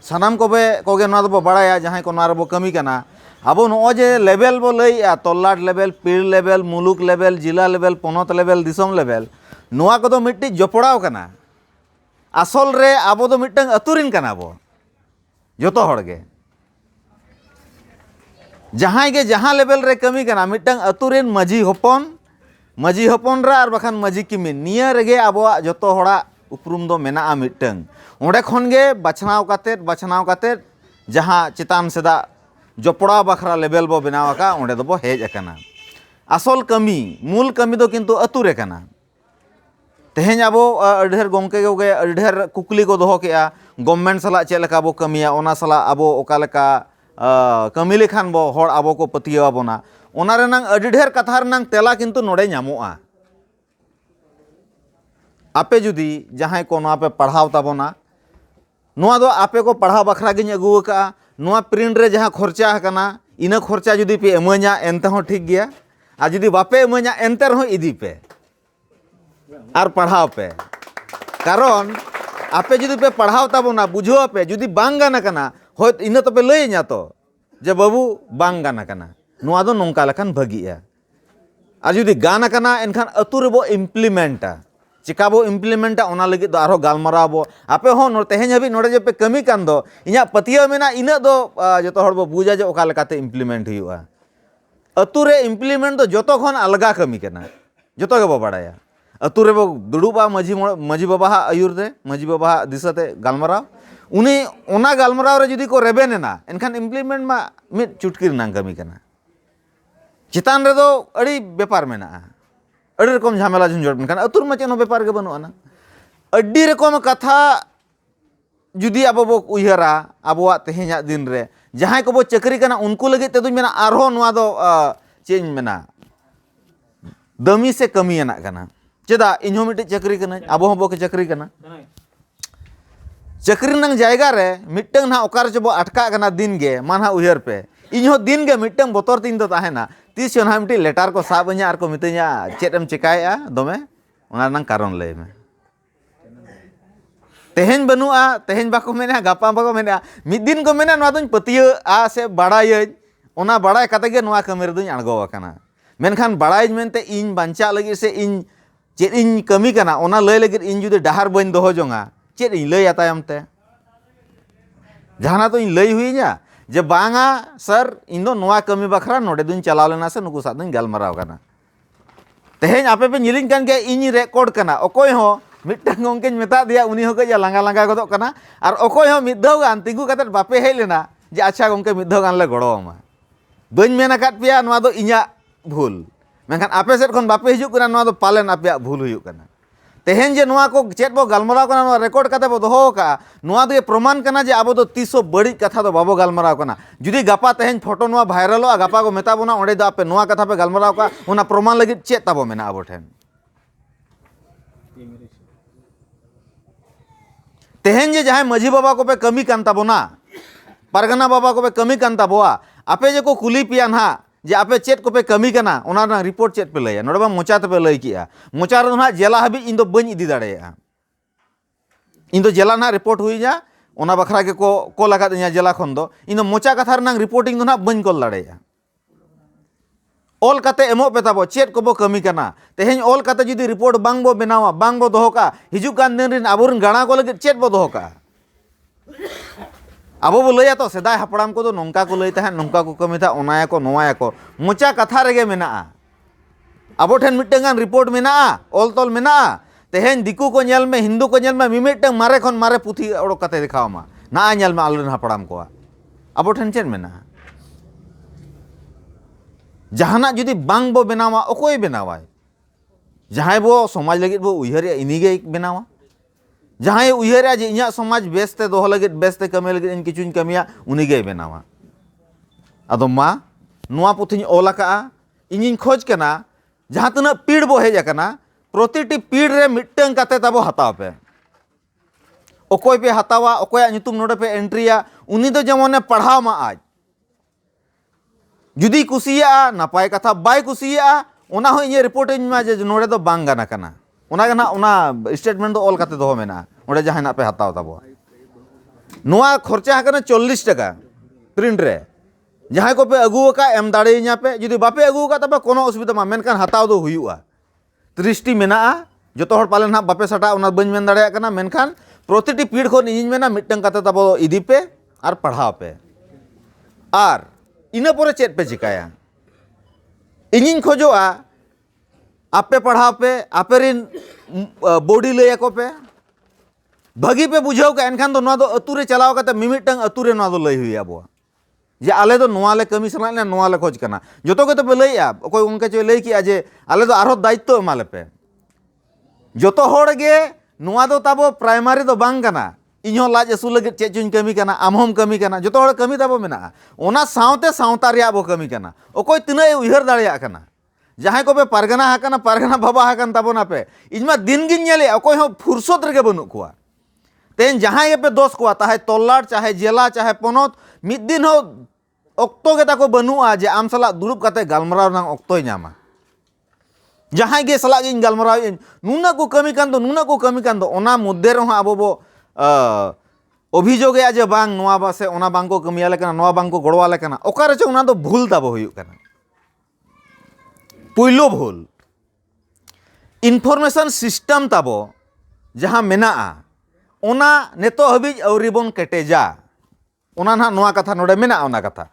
ᱥᱟᱱᱟᱢ ᱠᱚᱵᱮ ᱠᱚᱜᱮ ᱱᱚᱣᱟ ᱫᱚᱵᱚ ᱵᱟᱲᱟᱭᱟ ᱡᱟᱦᱟᱸᱭ ᱠᱚ ᱱᱚᱣᱟ ᱨᱮᱵᱚ ᱠᱟᱹᱢᱤ ᱠᱟᱱᱟ ᱟᱵᱚ ᱱᱚᱜᱼᱚᱭ ᱡᱮ ᱞᱮᱵᱮᱞ ᱵᱚ ᱞᱟᱹᱭᱮᱜᱼᱟ ᱛᱚᱞᱞᱟᱴ ᱞᱮᱵᱮᱞ ᱯᱤᱲ ᱞᱮᱵᱮᱞ ᱢᱩᱞᱩᱠ ᱞᱮᱵᱮᱞ ᱡᱮᱞᱟ ᱞᱮᱵᱮᱞ ᱯᱚᱱᱚᱛ ᱞᱮᱵᱮᱞ ᱫᱤᱥᱚᱢ ᱞᱮᱵᱮᱞ ᱱᱚᱣᱟ ᱠᱚᱫᱚ ᱢᱤᱫᱴᱤᱡ ᱡᱚᱯᱲᱟᱣ ᱠᱟᱱᱟ ᱟᱥᱚᱞ ᱨᱮ ᱟᱵᱚ ᱫᱚ ᱢᱤᱫᱴᱟᱝ ᱟᱹᱛᱩ ᱨᱮᱱ ᱠᱟᱱᱟ ᱵᱚ ᱡᱚᱛᱚ ᱦᱚᱲ ᱜᱮ ᱡᱟᱦᱟᱸᱭ ᱜᱮ ᱡᱟᱦᱟᱸ ᱞᱮᱵᱮᱞ ᱨᱮ ᱠᱟᱹᱢᱤ ᱠᱟᱱᱟ ᱢᱤᱫᱴᱟᱝ ᱟᱹᱛᱩ ᱨᱮᱱ ᱢᱟᱹᱡᱷᱤ ᱦᱚᱯᱚᱱ ᱢᱟᱹᱡᱷᱤ ᱦᱚᱯᱚᱱ ᱨᱮ ᱟᱨ ᱵᱟᱠᱷᱟᱱ ᱢᱟᱹᱡᱷᱤ ᱠᱤᱢᱤᱱ ᱱᱤᱭᱟᱹ ᱨᱮᱜᱮ ᱟᱵᱚᱣᱟᱜ ᱡᱚᱛᱚ ᱦᱚᱲᱟᱜ ᱩᱯᱨᱩᱢ ᱫᱚ ᱢᱮᱱᱟᱜᱼᱟ ᱢᱤᱫᱴᱟᱝ ᱚᱸᱰᱮ ᱠᱷᱚᱱ ᱜᱮ ᱵᱟᱪᱷᱱᱟᱣ ᱠᱟᱛᱮᱫ ᱵᱟᱪᱷᱱᱟᱣ ᱠᱟᱛᱮᱫ ᱡᱟᱦᱟᱸ ᱪᱮᱛᱟᱱ ᱥᱮᱫᱟᱜ ᱡᱚᱯᱲᱟᱣ ᱵᱟᱠᱷᱨᱟ ᱞᱮᱵᱮᱞ ᱵᱚ ᱵᱮᱱᱟᱣ ᱟᱠᱟᱫᱼᱟ ᱚᱸᱰᱮ ᱫᱚᱵᱚ ᱦᱮᱡ ᱟᱠᱟᱱᱟ ᱟᱥᱚᱞ ᱠᱟᱹᱢᱤ ᱢᱩᱞ ᱠᱟᱹᱢᱤ ᱫᱚ ᱠᱤᱱᱛᱩ ᱟᱹᱛᱩ ᱨᱮ ᱠᱟᱱᱟ ᱛᱮᱦᱮᱧ ᱟᱵᱚ ᱟᱹᱰᱤ ᱰᱷᱮᱨ ᱜᱚᱢᱠᱮ ᱠᱚᱜᱮ ᱟᱹᱰᱤ ᱰᱷᱮᱨ ᱠᱩᱠᱞᱤ ᱠᱚ ᱫᱚᱦᱚ ᱠᱮᱜᱼᱟ ᱜᱚᱵᱷᱢᱮᱱᱴ ᱥᱟᱞᱟᱜ ᱪᱮᱫ ᱞᱮᱠᱟ ᱵᱚ ᱠᱟᱹᱢᱤᱭᱟ ᱚᱱᱟ ᱥᱟᱞᱟᱜ ᱟᱵᱚ ᱚᱠᱟ ᱞᱮᱠᱟ ᱠᱟᱹᱢᱤ ᱞᱮᱠᱷᱟᱱ ᱵᱚ ᱦᱚᱲ ᱟᱵᱚ ᱠᱚ ᱯᱟᱹᱛᱭᱟᱹᱣ ᱟᱵᱚᱱᱟ ᱚᱱᱟ ᱨᱮᱱᱟᱝ ᱟᱹᱰᱤ ᱰᱷᱮᱨ ᱠᱟᱛᱷᱟ ᱨᱮᱱᱟᱝ ᱛᱮᱞᱟ ᱠᱤᱱᱛᱩ ᱱᱚᱰᱮ ᱧᱟᱢᱚᱜᱼᱟ ᱟᱯᱮ ᱡᱩᱫᱤ ᱡᱟᱦᱟᱸᱭ ᱠᱚ ᱱᱚᱣᱟ ᱯᱮ ᱯᱟᱲᱦᱟᱣ ᱛᱟᱵᱚᱱᱟ ᱱᱚᱣᱟ ᱫᱚ ᱟᱯᱮ ᱠᱚ ᱯᱟᱲᱦᱟᱣ ᱵᱟᱠᱷᱨᱟ ᱜᱤᱧ ᱟᱹᱜᱩ ᱟᱠᱟᱫᱼᱟ ᱱᱚᱣᱟ ᱯᱨᱤᱱᱴ ᱨᱮ ᱡᱟᱦᱟᱸ ᱠᱷᱚᱨᱪᱟ ᱟᱠᱟᱱᱟ ᱤᱱᱟᱹ ᱠᱷᱚᱨᱪᱟ ᱡᱩᱫᱤ ᱯᱮ ᱤᱢᱟᱹᱧᱟ ᱮᱱᱛᱮ ᱦᱚᱸ ᱴᱷᱤᱠ ᱜᱮᱭᱟ ᱟᱨ ᱡᱩᱫᱤ ᱵᱟᱯᱮ ᱤᱢᱟᱹᱧᱟ ᱮᱱᱛᱮ ᱨᱮᱦᱚᱸ ᱤᱫᱤ ᱯᱮ ᱟᱨ ᱯᱟᱲᱦᱟᱣ ᱯᱮ ᱠᱟᱨᱚᱱ ᱟᱯᱮ ᱡᱩᱫᱤ ᱯᱮ ᱯᱟᱲᱦᱟᱣ ᱛᱟᱵᱚᱱᱟ ᱵᱩᱡᱷᱟᱹᱣ ᱟᱯᱮ ᱡᱩᱫᱤ ᱵᱟᱝ ᱜᱟᱱ ᱟᱠᱟᱱᱟ ᱦᱳᱭ ᱤᱱᱟᱹ ᱛᱚᱯᱮ ᱞᱟᱹᱭᱟᱹᱧᱟ ᱛᱚ ᱡᱮ ᱵᱟᱹᱵᱩ ᱵᱟᱝ ᱜᱟᱱ ᱟᱠᱟᱱᱟ ᱱᱚᱣᱟ ᱫᱚ ᱱᱚᱝᱠᱟ ᱞᱮᱠᱷᱟᱱ ᱵᱷᱟᱹᱜᱤᱜᱼᱟ ᱟᱨ ᱡᱩᱫᱤ ᱜᱟᱱ ᱟᱠᱟᱱᱟ ᱮᱱᱠᱷᱟᱱ ᱟᱹᱛᱩ ᱨᱮᱵᱚ ᱤᱢᱯᱞᱤᱢᱮᱱᱴᱟ ᱪᱮᱠᱟ ᱵᱚ ᱤᱢᱯᱞᱤᱢᱮᱱᱴᱟ ᱚᱱᱟ ᱞᱟᱹᱜᱤᱫ ᱫᱚ ᱟᱨᱦᱚᱸ ᱜᱟᱞᱢᱟᱨᱟᱣ ᱵᱚ ᱟᱯᱮ ᱦᱚᱸ ᱛᱮᱦᱮᱧ ᱦᱟᱹᱵᱤᱡ ᱱᱚᱰᱮ ᱡᱮᱯᱮ ᱠᱟᱹᱢᱤ ᱠᱟᱱ ᱫᱚ ᱤᱧᱟᱹᱜ ᱯᱟᱹᱛᱭᱟᱹᱣ ᱢᱮᱱᱟᱜᱼᱟ ᱤᱱᱟᱹᱜ ᱫᱚ ᱡᱚᱛᱚ ᱦᱚᱲ ᱵᱚ ᱵᱩᱡᱟ ᱡᱮ ᱚᱠᱟ ᱞᱮᱠᱟᱛᱮ ᱤᱢᱯᱞᱤᱢᱮᱱᱴ ᱦᱩᱭᱩᱜᱼᱟ ᱟᱹᱛᱩ ᱨᱮ ᱤᱢᱯᱞᱤᱢᱮᱱᱴ ᱫᱚ ᱡᱚᱛᱚ ᱠᱷᱚᱱ ᱟᱞᱜᱟ ᱠᱟᱹᱢᱤ ᱠᱟᱱᱟ ᱡᱚᱛᱚ ᱜᱮᱵᱚ ᱵᱟᱲᱟᱭᱟ ᱟᱹᱛᱩ ᱨᱮᱵᱚ ᱫᱩᱲᱩᱵᱼᱟ ᱢᱟᱹᱡᱷᱤ ᱢᱟᱹᱡᱷᱤ ᱵᱟᱵᱟᱣᱟᱜ ᱟᱹᱭᱩᱨ ᱨᱮ ᱢᱟᱹᱡᱷᱤ ᱵᱟᱵᱟᱣᱟᱜ ᱫᱤᱥᱟᱹᱛᱮ ᱜᱟᱞᱢᱟᱨᱟᱣ ᱩᱱᱤ ᱚᱱᱟ ᱜᱟᱞᱢᱟᱨᱟᱣ ᱨᱮ ᱡᱩᱫᱤ ᱠᱚ ᱨᱮᱵᱮᱱ ᱮᱱᱟ ᱮᱱᱠᱷᱟᱱ ᱤᱢᱯᱞᱤᱢᱮᱱᱴ ᱢᱟ ᱢᱤᱫ ᱪᱩᱴᱠᱤ ᱨᱮᱱᱟᱝ ᱠᱟᱹᱢᱤ ᱠᱟᱱᱟ ᱪᱮᱛᱟᱱ ᱨᱮᱫᱚ ᱟᱹᱰᱤ ᱵᱮᱯᱟᱨ ᱢᱮᱱᱟᱜᱼᱟ ᱟᱹᱰᱤ ᱨᱚᱠᱚᱢ ᱡᱷᱟᱢᱮᱞᱟ ᱡᱷᱩᱸᱡᱷᱚᱴ ᱢᱮᱱᱠᱷᱟᱱ ᱟᱹᱛᱩ ᱨᱮᱢᱟ ᱪᱮᱫ ᱦᱚᱸ ᱵᱮᱯᱟᱨ ᱜᱮ ᱵᱟᱹᱱᱩᱜ ᱟᱱᱟ ᱟᱹᱰᱤ ᱨᱚᱠᱚᱢ ᱠᱟᱛᱷᱟ ᱡᱩᱫᱤ ᱟᱵᱚ ᱵᱚ ᱩᱭᱦᱟᱹᱨᱟ ᱟᱵᱚᱣᱟᱜ ᱛᱮᱦᱮᱧᱟᱜ ᱫᱤᱱ ᱨᱮ ᱡᱟᱦᱟᱸᱭ ᱠᱚᱵᱚ ᱪᱟᱹᱠᱨᱤ ᱠᱟᱱᱟ ᱩᱱᱠᱩ ᱞᱟᱹᱜᱤᱫ ᱛᱮᱫᱚᱧ ᱢᱮᱱᱟ ᱟᱨᱦᱚᱸ ᱱᱚᱣᱟ ᱫᱚ ᱪᱮᱫ ᱤᱧ ᱢᱮᱱᱟ ᱫᱟᱹᱢᱤ ᱥᱮ ᱠᱟᱹᱢᱤᱭᱟᱱᱟᱜ ᱠᱟᱱᱟ ᱪᱮᱫᱟᱜ ᱤᱧ ᱦᱚᱸ ᱢᱤᱫᱴᱮᱱ ᱪᱟᱹᱠᱨᱤ ᱠᱟᱹᱱᱟᱹᱧ ᱟᱵᱚ ᱦᱚᱸ ᱵᱚᱠᱮ ᱪᱟᱹᱠᱨᱤ ᱠᱟᱱᱟ ᱪᱟᱹᱠᱨᱤ ᱨᱮᱱᱟᱝ ᱡᱟᱭᱜᱟ ᱨᱮ ᱢᱤᱫᱴᱟᱝ ᱱᱟᱦᱟᱜ ᱚᱠᱟ ᱨᱮᱪᱚ ᱵᱚ ᱟᱴᱠᱟᱜ ᱠᱟᱱᱟ ᱫᱤᱱ ᱜᱮ ᱢᱟ ᱱᱟᱦᱟᱜ ᱩᱭᱦᱟᱹᱨ ᱯᱮ ᱤᱧ ᱦᱚᱸ ᱫᱤᱱ ᱜᱮ ᱢᱤᱫᱴᱟᱝ ᱵᱚᱛᱚᱨ ᱛᱤᱧ ᱫᱚ ᱛᱟᱦᱮᱱᱟ ᱛᱤᱥ ᱪᱚ ᱱᱟᱦᱟᱜ ᱢᱤᱫᱴᱤᱡ ᱞᱮᱴᱟᱨ ᱠᱚ ᱥᱟᱵ ᱟᱹᱧᱟ ᱟᱨ ᱠᱚ ᱢᱤᱛᱟᱹᱧᱟ ᱪᱮᱫ ᱮᱢ ᱪᱮᱠᱟᱭᱮᱜᱼᱟ ᱫᱚᱢᱮ ᱚᱱᱟ ᱨᱮᱱᱟᱝ ᱠᱟᱨᱚᱱ ᱞᱟᱹᱭ ᱢᱮ ᱛᱮᱦᱮᱧ ᱵᱟᱹᱱᱩᱜᱼᱟ ᱛᱮᱦᱮᱧ ᱵᱟᱠᱚ ᱢᱮᱱᱟ ᱜᱟᱯᱟ ᱵᱟᱠᱚ ᱢᱮᱱᱟ ᱢᱤᱫ ᱫᱤᱱ ᱠᱚ ᱢᱮᱱᱟ ᱱᱚᱣᱟ ᱫᱚᱧ ᱯᱟᱹᱛᱭᱟᱹᱜᱼᱟ ᱥᱮ ᱵᱟᱲᱟᱭᱟᱹᱧ ᱚᱱᱟ ᱵᱟᱲᱟᱭ ᱠᱟᱛᱮ ᱜᱮ ᱱᱚᱣᱟ ᱠᱟᱹᱢᱤ ᱨᱮᱫᱚᱧ ᱟᱬᱜᱚ ᱟᱠᱟᱱᱟ ᱢᱮᱱᱠᱷᱟᱱ ᱵᱟᱲᱟᱭᱟᱹᱧ ᱢᱮᱱᱛᱮ ᱤᱧ ᱵᱟᱧᱪᱟᱜ ᱞᱟᱹᱜᱤᱫ ᱥᱮ ᱤᱧ ᱪᱮᱫ ᱤᱧ ᱠᱟᱹᱢᱤ ᱠᱟᱱᱟ ᱚᱱᱟ ᱞᱟᱹᱭ ᱞᱟᱹᱜᱤᱫ ᱤᱧ ᱡᱩᱫᱤ ᱰᱟᱦᱟᱨ ᱵᱟᱹᱧ ᱫᱚᱦᱚ ᱡᱚᱝᱟ ᱪᱮᱫ ᱤᱧ ᱞᱟᱹᱭᱟ ᱛᱟᱭᱚᱢ ᱛᱮ ᱡᱟᱦᱟᱱᱟᱜ ᱫᱚ ᱤᱧ ᱞᱟᱹᱭ ᱦᱩᱭᱤᱧᱟ ᱡᱮ ᱵᱟᱝᱟ ᱥᱟᱨ ᱤᱧ ᱫᱚ ᱱᱚᱣᱟ ᱠᱟᱹᱢᱤ ᱵᱟᱠᱷᱨᱟ ᱱᱚᱰᱮ ᱫᱚᱧ ᱪᱟᱞᱟᱣ ᱞᱮᱱᱟ ᱥᱮ ᱱᱩᱠᱩ ᱥᱟᱶ ᱫᱚᱧ ᱜᱟᱞᱢᱟᱨᱟᱣ ᱠᱟᱱᱟ ᱛᱮᱦᱮᱧ ᱟᱯᱮ ᱯᱮ ᱧᱮᱞᱤᱧ ᱠᱟᱱ ᱜᱮᱭᱟ ᱤᱧᱤᱧ ᱨᱮᱠᱚᱨᱰ ᱠᱟᱱᱟ ᱚᱠᱚᱭ ᱦᱚᱸ ᱢᱤᱫᱴᱟᱝ ᱜᱚᱝᱠᱮᱧ ᱢᱮᱛᱟ ᱫᱮᱭᱟ ᱩᱱᱤ ᱦᱚᱸ ᱠᱟᱹᱡ ᱞᱟᱸᱜᱟ ᱞᱟᱸᱜᱟ ᱜᱚᱫᱚᱜ ᱠᱟᱱᱟ ᱟᱨ ᱚᱠᱚᱭ ᱦᱚᱸ ᱢᱤᱫ ᱫᱷᱟᱣ ᱜᱟᱱ ᱛᱤᱸᱜᱩ ᱠᱟᱛᱮ ᱵᱟᱯᱮ ᱦᱮᱡ ᱞᱮᱱᱟ ᱡᱮ ᱟᱪᱪᱷᱟ ᱜᱚᱝᱠᱮ ᱢᱤᱫ ᱫᱷᱟᱣ ᱜᱟᱱ ᱞᱮ ᱜᱚᱲᱚ ᱟᱢᱟ ᱵᱟᱹᱧ ᱢᱮᱱ ᱟᱠᱟᱫ ᱯᱮᱭᱟ ᱱᱚᱣᱟ ᱫᱚ ᱤᱧᱟᱹᱜ ᱵᱷᱩᱞ ᱢᱮᱱᱠᱷᱟᱱ ᱟᱯᱮ ᱥᱮᱫ ᱠᱷᱚᱱ ᱵᱟᱯᱮ ᱦᱤᱡᱩᱜ ᱠᱟᱱᱟ ᱱᱚᱣᱟ ᱫᱚ ᱯᱟᱞᱮᱱ ᱟᱯᱮᱭᱟᱜ ᱵᱷᱩᱞ ᱦᱩᱭᱩᱜ ᱠᱟᱱᱟ ᱛᱮᱦᱮᱧ ᱡᱮ ᱱᱚᱣᱟ ᱠᱚ ᱪᱮᱫ ᱵᱚ ᱜᱟᱞᱢᱟᱨᱟᱣ ᱠᱟᱱᱟ ᱱᱚᱣᱟ ᱨᱮᱠᱚᱨᱰ ᱠᱟᱛᱮ ᱵᱚ ᱫᱚᱦᱚ ᱟᱠᱟᱫᱼᱟ ᱱᱚᱣᱟ ᱫᱚ ᱯᱨᱚᱢᱟᱱ ᱠᱟᱱᱟ ᱡᱮ ᱟᱵᱚ ᱫᱚ ᱛᱤᱥ ᱦᱚᱸ ᱵᱟᱹᱲᱤᱡ ᱠᱟᱛᱷᱟ ᱫᱚ ᱵᱟᱵᱚ ᱜᱟᱞᱢᱟᱨᱟᱣ ᱠᱟᱱᱟ ᱡᱩᱫᱤ ᱜᱟᱯᱟ ᱛᱮᱦᱮᱧ ᱯᱷᱳᱴᱳ ᱱᱚᱣᱟ ᱵᱷᱟᱭᱨᱟᱞᱚᱜᱼᱟ ᱜᱟᱯᱟ ᱠᱚ ᱢᱮᱛᱟ ᱵᱚᱱᱟ ᱚᱸᱰᱮ ᱫᱚ ᱟᱯᱮ ᱱᱚᱣᱟ ᱠᱟᱛᱷᱟ ᱯᱮ ᱜᱟᱞᱢᱟᱨᱟᱣ ᱠᱟᱜᱼᱟ ᱚᱱᱟ ᱯᱨᱚᱢᱟᱱ ᱞᱟᱹᱜᱤᱫ ᱪᱮᱫ ᱛᱟᱵᱚ ᱢᱮᱱᱟᱜᱼᱟ ᱟᱵᱚ ᱴᱷᱮᱱ ᱛᱮᱦᱮᱧ ᱡᱮ ᱡᱟᱦᱟᱸᱭ ᱢᱟᱹᱡᱷᱤ ᱵᱟᱵᱟ ᱠᱚᱯᱮ ᱠᱟᱹᱢᱤ ᱠᱟᱱ ᱛᱟᱵᱚᱱᱟ ᱯᱟᱨᱜᱟᱱᱟ ᱵᱟᱵᱟ ᱠᱚᱯᱮ ᱠᱟᱹᱢᱤ ᱠᱟᱱ ᱛᱟᱵᱚᱣᱟ ᱟᱯᱮ ᱡᱮᱠᱚ ᱠᱩᱞᱤ ᱯᱮᱭᱟ ᱱᱟᱦᱟᱜ ᱡᱮ ᱟᱯᱮ ᱪᱮᱫ ᱠᱚᱯᱮ ᱠᱟᱹᱢᱤ ᱠᱟᱱᱟ ᱚᱱᱟ ᱨᱮᱱᱟᱜ ᱨᱤᱯᱳᱨᱴ ᱪᱮᱫ ᱯᱮ ᱞᱟᱹᱭᱟ ᱱᱚᱰᱮ ᱢᱟ ᱢᱚᱪᱟ ᱛᱮᱯᱮ ᱞᱟᱹᱭ ᱠᱮᱜᱼᱟ ᱢᱚᱪᱟ ᱨᱮᱫᱚ ᱱᱟᱦᱟᱜ ᱡᱮᱞᱟ ᱦᱟᱹᱵᱤᱡ ᱤᱧ ᱫᱚ ᱵᱟᱹᱧ ᱤᱫᱤ ᱫᱟᱲᱮᱭᱟᱜᱼᱟ ᱤᱧ ᱫᱚ ᱡᱮᱞᱟ ᱱᱟᱦᱟᱜ ᱨᱤᱯᱳᱨᱴ ᱦᱩᱭᱤᱧᱟ ᱚᱱᱟ ᱵᱟᱠᱷᱨᱟ ᱜᱮᱠᱚ ᱠᱚᱞ ᱟᱠᱟᱫᱤᱧᱟ ᱡᱮᱞᱟ ᱠᱷᱚᱱ ᱫᱚ ᱤᱧ ᱫᱚ ᱢᱚᱪᱟ ᱠᱟᱛᱷᱟ ᱨᱮᱱᱟᱜ ᱨᱤᱯᱳᱨᱴᱤᱝ ᱫᱚ ᱱᱟᱦᱟᱜ ᱵᱟᱹᱧ ᱠᱚᱞ ᱫᱟᱲᱮᱭᱟᱜᱼᱟ ᱚᱞ ᱠᱟᱛᱮ ᱮᱢᱚᱜ ᱯᱮ ᱛᱟᱵᱚ ᱪᱮᱫ ᱠᱚᱵᱚ ᱠᱟᱹᱢᱤ ᱠᱟᱱᱟ ᱛᱮᱦᱮᱧ ᱚᱞ ᱠᱟᱛᱮ ᱡᱩᱫᱤ ᱨᱤᱯᱳᱨᱴ ᱵᱟᱝ ᱵᱚ ᱵᱮᱱᱟᱣᱟ ᱵᱟᱝ ᱵᱚ ᱫᱚᱦᱚ ᱠᱟᱜᱼᱟ ᱦᱤᱡᱩᱜ ᱠᱟᱱ ᱫᱤᱱ ᱨᱮᱱ ᱟᱵᱚᱨᱮᱱ ᱜᱟᱬᱟ ᱠᱚ ᱞᱟᱹᱜᱤᱫ ᱪᱮᱫ ᱵᱚ ᱫᱚᱦᱚ ᱠᱟᱜᱼᱟ ᱟᱵᱚ ᱵᱚ ᱞᱟᱹᱭᱟ ᱛᱚ ᱥᱮᱫᱟᱭ ᱦᱟᱯᱲᱟᱢ ᱠᱚᱫᱚ ᱱᱚᱝᱠᱟ ᱠᱚ ᱞᱟᱹᱭ ᱛᱟᱦᱮᱸᱫ ᱱᱚᱝᱠᱟ ᱠᱚ ᱠᱟᱹᱢᱤ ᱛᱟᱦᱮᱸᱫ ᱚᱱᱟᱭᱟᱠᱚ ᱱᱚᱣᱟᱭᱟᱠᱚ ᱢᱚᱪᱟ ᱠᱟᱛᱷᱟ ᱨᱮᱜᱮ ᱢᱮᱱᱟᱜᱼᱟ ᱟᱵᱚ ᱴᱷᱮᱱ ᱢᱤᱫᱴᱟᱝ ᱜᱟᱱ ᱨᱤᱯᱳᱨᱴ ᱢᱮᱱᱟᱜᱼᱟ ᱚᱞ ᱛᱚᱞ ᱢᱮᱱᱟᱜᱼᱟ ᱛᱮᱦᱮᱧ ᱫᱤᱠᱩ ᱠᱚ ᱧᱮᱞ ᱢᱮ ᱦᱤᱱᱫᱩ ᱠᱚ ᱧᱮᱞ ᱢᱮ ᱢᱤᱢᱤᱫᱴᱟᱝ ᱢᱟᱨᱮ ᱠᱷᱚᱱ ᱢᱟᱨᱮ ᱯᱩᱛᱷᱤ ᱚᱰᱚᱠ ᱠᱟᱛᱮ ᱫᱮᱠᱷᱟᱣ ᱟᱢᱟ ᱱᱟᱜᱼᱟ ᱧᱮᱞ ᱢᱮ ᱟᱞᱮᱨᱮᱱ ᱦᱟᱯᱲᱟᱢ ᱠᱚᱣᱟᱜ ᱟᱵᱚ ᱴᱷᱮᱱ ᱪᱮᱫ ᱢᱮᱱᱟᱜᱼᱟ ᱡᱟᱦᱟᱱᱟᱜ ᱡᱩᱫᱤ ᱵᱟᱝ ᱵᱚ ᱵᱮᱱᱟᱣᱟ ᱚᱠᱚᱭ ᱵᱮᱱᱟᱣᱟᱭ ᱡᱟᱦᱟᱸᱭ ᱵᱚ ᱥᱚᱢᱟᱡᱽ ᱞᱟᱹᱜᱤᱫ ᱵᱚ ᱩᱭᱦᱟᱹᱨᱮᱜᱼᱟ ᱤᱱᱤᱜᱮᱭ ᱵᱮᱱᱟᱣᱟ ᱡᱟᱦᱟᱸᱭ ᱩᱭᱦᱟᱹᱨᱟ ᱡᱮ ᱤᱧᱟᱹᱜ ᱥᱚᱢᱟᱡᱽ ᱵᱮᱥᱛᱮ ᱫᱚᱦᱚ ᱞᱟᱹᱜᱤᱫ ᱵᱮᱥᱛᱮ ᱠᱟᱹᱢᱤ ᱞᱟᱹᱜᱤᱫ ᱤᱧ ᱠᱤᱪᱷᱩᱧ ᱠᱟᱹᱢᱤᱭᱟ ᱩᱱᱤᱜᱮᱭ ᱵᱮᱱᱟᱣᱟ ᱟᱫᱚ ᱢᱟ ᱱᱚᱣᱟ ᱯᱩᱛᱷᱤᱧ ᱚᱞ ᱟᱠᱟᱫᱼᱟ ᱤᱧᱤᱧ ᱠᱷᱚᱡᱽ ᱠᱟᱱᱟ ᱡᱟᱦᱟᱸ ᱛᱤᱱᱟᱹᱜ ᱯᱤᱲ ᱵᱚ ᱦᱮᱡ ᱟᱠᱟᱱᱟ ᱯᱨᱚᱛᱤᱴᱤ ᱯᱤᱲ ᱨᱮ ᱢᱤᱫᱴᱟᱝ ᱠᱟᱛᱮ ᱛᱟᱵᱚ ᱦᱟᱛᱟᱣ ᱯᱮ ᱚᱠᱚᱭ ᱯᱮ ᱦᱟᱛᱟᱣᱟ ᱚᱠᱚᱭᱟᱜ ᱧᱩᱛᱩᱢ ᱱᱚᱰᱮ ᱯᱮ ᱮᱱᱴᱨᱤᱭᱟ ᱩᱱᱤ ᱫᱚ ᱡᱮᱢᱚᱱᱮ ᱯᱟᱲᱦᱟᱣ ᱢᱟ ᱟᱡ ᱡᱩᱫᱤ ᱠᱩᱥᱤᱭᱟᱜᱼᱟ ᱱᱟᱯᱟᱭ ᱠᱟᱛᱷᱟ ᱵᱟᱭ ᱠᱩᱥᱤᱭᱟᱜᱼᱟ ᱚᱱᱟ ᱦᱚᱸ ᱤᱧᱟᱹᱜ ᱨᱤᱯᱳᱨᱴ ᱤᱧ ᱮᱢᱟ ᱡᱮ ᱱᱚᱰᱮ ᱫᱚ ᱵᱟᱝ ᱜᱟᱱ ᱟᱠᱟᱱᱟ ᱚᱱᱟ ᱜᱮ ᱱᱟᱜ ᱚᱱᱟ ᱥᱴᱮᱴᱢᱮᱱᱴ ᱫᱚ ᱚᱞ ᱠᱟᱛᱮ ᱫᱚᱦᱚ ᱢᱮᱱᱟᱜᱼᱟ ᱚᱸᱰᱮ ᱡᱟᱦᱟᱸᱭ ᱱᱟᱜ ᱯᱮ ᱦᱟᱛᱟᱣ ᱛᱟᱵᱚᱣᱟ ᱱᱚᱣᱟ ᱠᱷᱚᱨᱪᱟ ᱟᱠᱟᱱᱟ ᱪᱚᱞᱞᱤᱥ ᱴᱟᱠᱟ ᱯᱨᱤᱱᱴ ᱨᱮ ᱡᱟᱦᱟᱸᱭ ᱠᱚᱯᱮ ᱟᱹᱜᱩ ᱟᱠᱟᱫ ᱮᱢ ᱫᱟᱲᱮᱭᱟᱹᱧᱟ ᱯᱮ ᱡᱩᱫᱤ ᱵᱟᱯᱮ ᱟᱹᱜᱩ ᱟᱠᱟᱫ ᱛᱟᱯᱮ ᱠᱳᱱᱳ ᱚᱥᱩᱵᱤᱫᱷᱟ ᱵᱟᱝ ᱢᱮᱱᱠᱷᱟᱱ ᱦᱟᱛᱟᱣ ᱫᱚ ᱦᱩᱭᱩᱜᱼᱟ ᱛᱤᱨᱤᱥᱴᱤ ᱢᱮᱱᱟᱜᱼᱟ ᱡᱚᱛᱚ ᱦᱚᱲ ᱯᱟᱞᱮᱱ ᱦᱟᱸᱜ ᱵᱟᱯᱮ ᱥᱟᱴᱟᱜᱼᱟ ᱚᱱᱟ ᱵᱟᱹᱧ ᱢᱮᱱ ᱫᱟᱲᱮᱭᱟᱜ ᱠᱟᱱᱟ ᱢᱮᱱᱠᱷᱟᱱ ᱯᱨᱚᱛᱤᱴᱤ ᱯᱤᱲ ᱠᱷᱚᱱ ᱤᱧᱤᱧ ᱢᱮᱱᱟ ᱢᱤᱫᱴᱟᱝ ᱠᱟᱛᱮ ᱛᱟᱵᱚ ᱤᱫᱤ ᱯᱮ ᱟᱨ ᱯᱟᱲᱦᱟᱣ ᱯᱮ ᱟᱨ ᱤᱱᱟᱹ ᱯᱚᱨᱮ ᱪᱮᱫ ᱯᱮ ᱪᱤᱠᱟᱹᱭᱟ ᱤᱧᱤᱧ ᱠᱷᱚᱡᱚᱜᱼᱟ ᱟᱯᱮ ᱯᱟᱲᱦᱟᱣ ᱯᱮ ᱟᱯᱮ ᱨᱤᱱ ᱵᱚᱰᱤ ᱞᱟᱹᱭ ᱟᱠᱚ ᱯᱮ ᱵᱷᱟᱹᱜᱤ ᱯᱮ ᱵᱩᱡᱷᱟᱹᱣ ᱠᱟᱜᱼᱟ ᱮᱱᱠᱷᱟᱱ ᱫᱚ ᱱᱚᱣᱟ ᱫᱚ ᱟᱹᱛᱩ ᱨᱮ ᱪᱟᱞᱟᱣ ᱠᱟᱛᱮ ᱢᱤᱢᱤᱫᱴᱟᱝ ᱟᱹᱛᱩ ᱨᱮ ᱱᱚᱣᱟ ᱫᱚ ᱞᱟᱹᱭ ᱦᱩᱭ ᱟᱵᱚᱣᱟ ᱡᱮ ᱟᱞᱮ ᱫᱚ ᱱᱚᱣᱟ ᱞᱮ ᱠᱟᱹᱢᱤ ᱥᱟᱱᱟᱭᱮᱫ ᱞᱮᱭᱟ ᱱᱚᱣᱟ ᱞᱮ ᱠᱷᱚᱡᱽ ᱠᱟᱱᱟ ᱡᱚᱛᱚ ᱜᱮᱛᱚ ᱯᱮ ᱞᱟᱹᱭᱮᱜᱼᱟ ᱚᱠᱚᱭ ᱜᱚᱝᱠᱮ ᱪᱚᱭ ᱞᱟᱹᱭ ᱠᱮᱜᱼᱟ ᱡᱮ ᱟᱞᱮ ᱫᱚ ᱟᱨᱦᱚᱸ ᱫᱟᱭᱤᱛᱛᱚ ᱮᱢᱟ ᱞᱮᱯᱮ ᱡᱚᱛᱚ ᱦᱚᱲ ᱜᱮ ᱱᱚᱣᱟ ᱫᱚ ᱛᱟᱵᱚ ᱯᱨᱟᱭᱢᱟᱨᱤ ᱫᱚ ᱵᱟᱝ ᱠᱟᱱᱟ ᱤᱧ ᱦᱚᱸ ᱞᱟᱡ ᱟᱹᱥᱩᱞ ᱞᱟᱹᱜᱤᱫ ᱪᱮᱫ ᱪᱚᱧ ᱠᱟᱹᱢᱤ ᱠᱟᱱᱟ ᱟᱢ ᱦᱚᱸᱢ ᱠᱟᱹᱢᱤ ᱠᱟᱱᱟ ᱡᱚᱛᱚ ᱦᱚᱲ ᱠᱟᱹᱢᱤ ᱛᱟᱵᱚ ᱢᱮᱱᱟᱜᱼᱟ ᱚᱱᱟ ᱥᱟᱶᱛᱮ ᱥᱟᱶᱛᱟ ᱨᱮᱭᱟᱜ ᱵᱚ ᱠᱟᱹᱢᱤ ᱠᱟᱱᱟ ᱚᱠᱚᱭ ᱛᱤᱱᱟᱹᱜ ᱮ ᱩᱭᱦᱟᱹᱨ ᱫᱟᱲᱮᱭᱟᱜ ᱠᱟᱱᱟ ᱡᱟᱦᱟᱸᱭ ᱠᱚᱯᱮ ᱯᱟᱨᱜᱟᱱᱟ ᱟᱠᱟᱱᱟ ᱯᱟᱨᱜᱟᱱᱟ ᱵᱟᱵᱟ ᱟᱠᱟᱱ ᱛᱟᱵᱚᱱᱟᱯᱮ ᱤᱧ ᱢᱟ ᱫᱤᱱ ᱜᱤᱧ ᱧᱮᱞᱮᱜᱼᱟ ᱚᱠᱚᱭ ᱦᱚᱸ ᱯᱷᱩᱨᱥᱚᱛ ᱨᱮᱜᱮ ᱵᱟᱹᱱᱩᱜ ᱠᱚᱣᱟ ᱛᱮᱦᱮᱧ ᱡᱟᱦᱟᱸᱭ ᱜᱮᱯᱮ ᱫᱚᱥ ᱠᱚᱣᱟ ᱛᱟᱦᱮᱸ ᱛᱚᱞᱞᱟᱴ ᱪᱟᱦᱮ ᱡᱮᱞᱟ ᱪᱟᱦᱮ ᱯᱚᱱᱚᱛ ᱢᱤᱫ ᱫᱤᱱ ᱦᱚᱸ ᱚᱠᱛᱚ ᱜᱮ ᱛᱟᱠᱚ ᱵᱟᱹᱱᱩᱜᱼᱟ ᱡᱮ ᱟᱢ ᱥᱟᱞᱟᱜ ᱫᱩᱲᱩᱵ ᱠᱟᱛᱮ ᱜᱟᱞᱢᱟᱨᱟᱣ ᱨᱮᱱᱟᱜ ᱚᱠᱛᱚᱭ ᱧᱟᱢᱟ ᱡᱟᱦᱟᱸᱭ ᱜᱮ ᱥᱟᱞᱟᱜ ᱜᱤᱧ ᱜᱟᱞᱢᱟᱨᱟᱣ ᱮᱫ ᱱᱩᱱᱟᱹᱜ ᱠᱚ ᱠᱟᱹᱢᱤ ᱠᱟᱱ ᱫᱚ ᱱᱩᱱᱟᱹᱜ ᱠᱚ ᱠᱟᱹᱢᱤ ᱠᱟᱱ ᱫᱚ ᱚᱱᱟ ᱢᱚᱫᱽᱫᱷᱮ ᱨᱮᱦᱚᱸ ᱟᱵᱚ ᱵᱚ ᱚᱵᱷᱤᱡᱳᱜᱮᱜᱼᱟ ᱡᱮ ᱵᱟᱝ ᱱᱚᱣᱟ ᱵᱟᱥᱮ ᱚᱱᱟ ᱵᱟᱝ ᱠᱚ ᱠᱟᱹᱢᱤᱭᱟᱞᱮ ᱠᱟᱱᱟ ᱱᱚᱣᱟ ᱵᱟᱝ ᱠᱚ ᱜᱚᱲᱚᱣᱟᱞᱮ ᱠᱟᱱᱟ ᱚᱠᱟᱨᱮ ᱪᱚ ᱚᱱᱟ ᱫᱚ ᱵᱷᱩᱞ ᱛᱟᱵᱚ ᱦᱩᱭᱩᱜ ᱠᱟᱱᱟ ᱯᱩᱭᱞᱳ ᱵᱷᱩᱞ ᱤᱱᱯᱷᱚᱨᱢᱮᱥᱚᱱ ᱥᱤᱥᱴᱮᱢ ᱛᱟᱵᱚ ᱡᱟᱦᱟᱸ ᱢᱮᱱᱟᱜᱼᱟ ᱚᱱᱟ ᱱᱤᱛᱚᱜ ᱦᱟᱹᱵᱤᱡ ᱟᱹᱣᱨᱤ ᱵᱚᱱ ᱠᱮᱴᱮᱡᱟ ᱚᱱᱟ ᱱᱟᱦᱟᱜ ᱱᱚᱣᱟ ᱠᱟᱛᱷᱟ ᱱᱚᱰᱮ ᱢᱮᱱᱟᱜᱼᱟ ᱚᱱᱟ ᱠᱟᱛᱷᱟ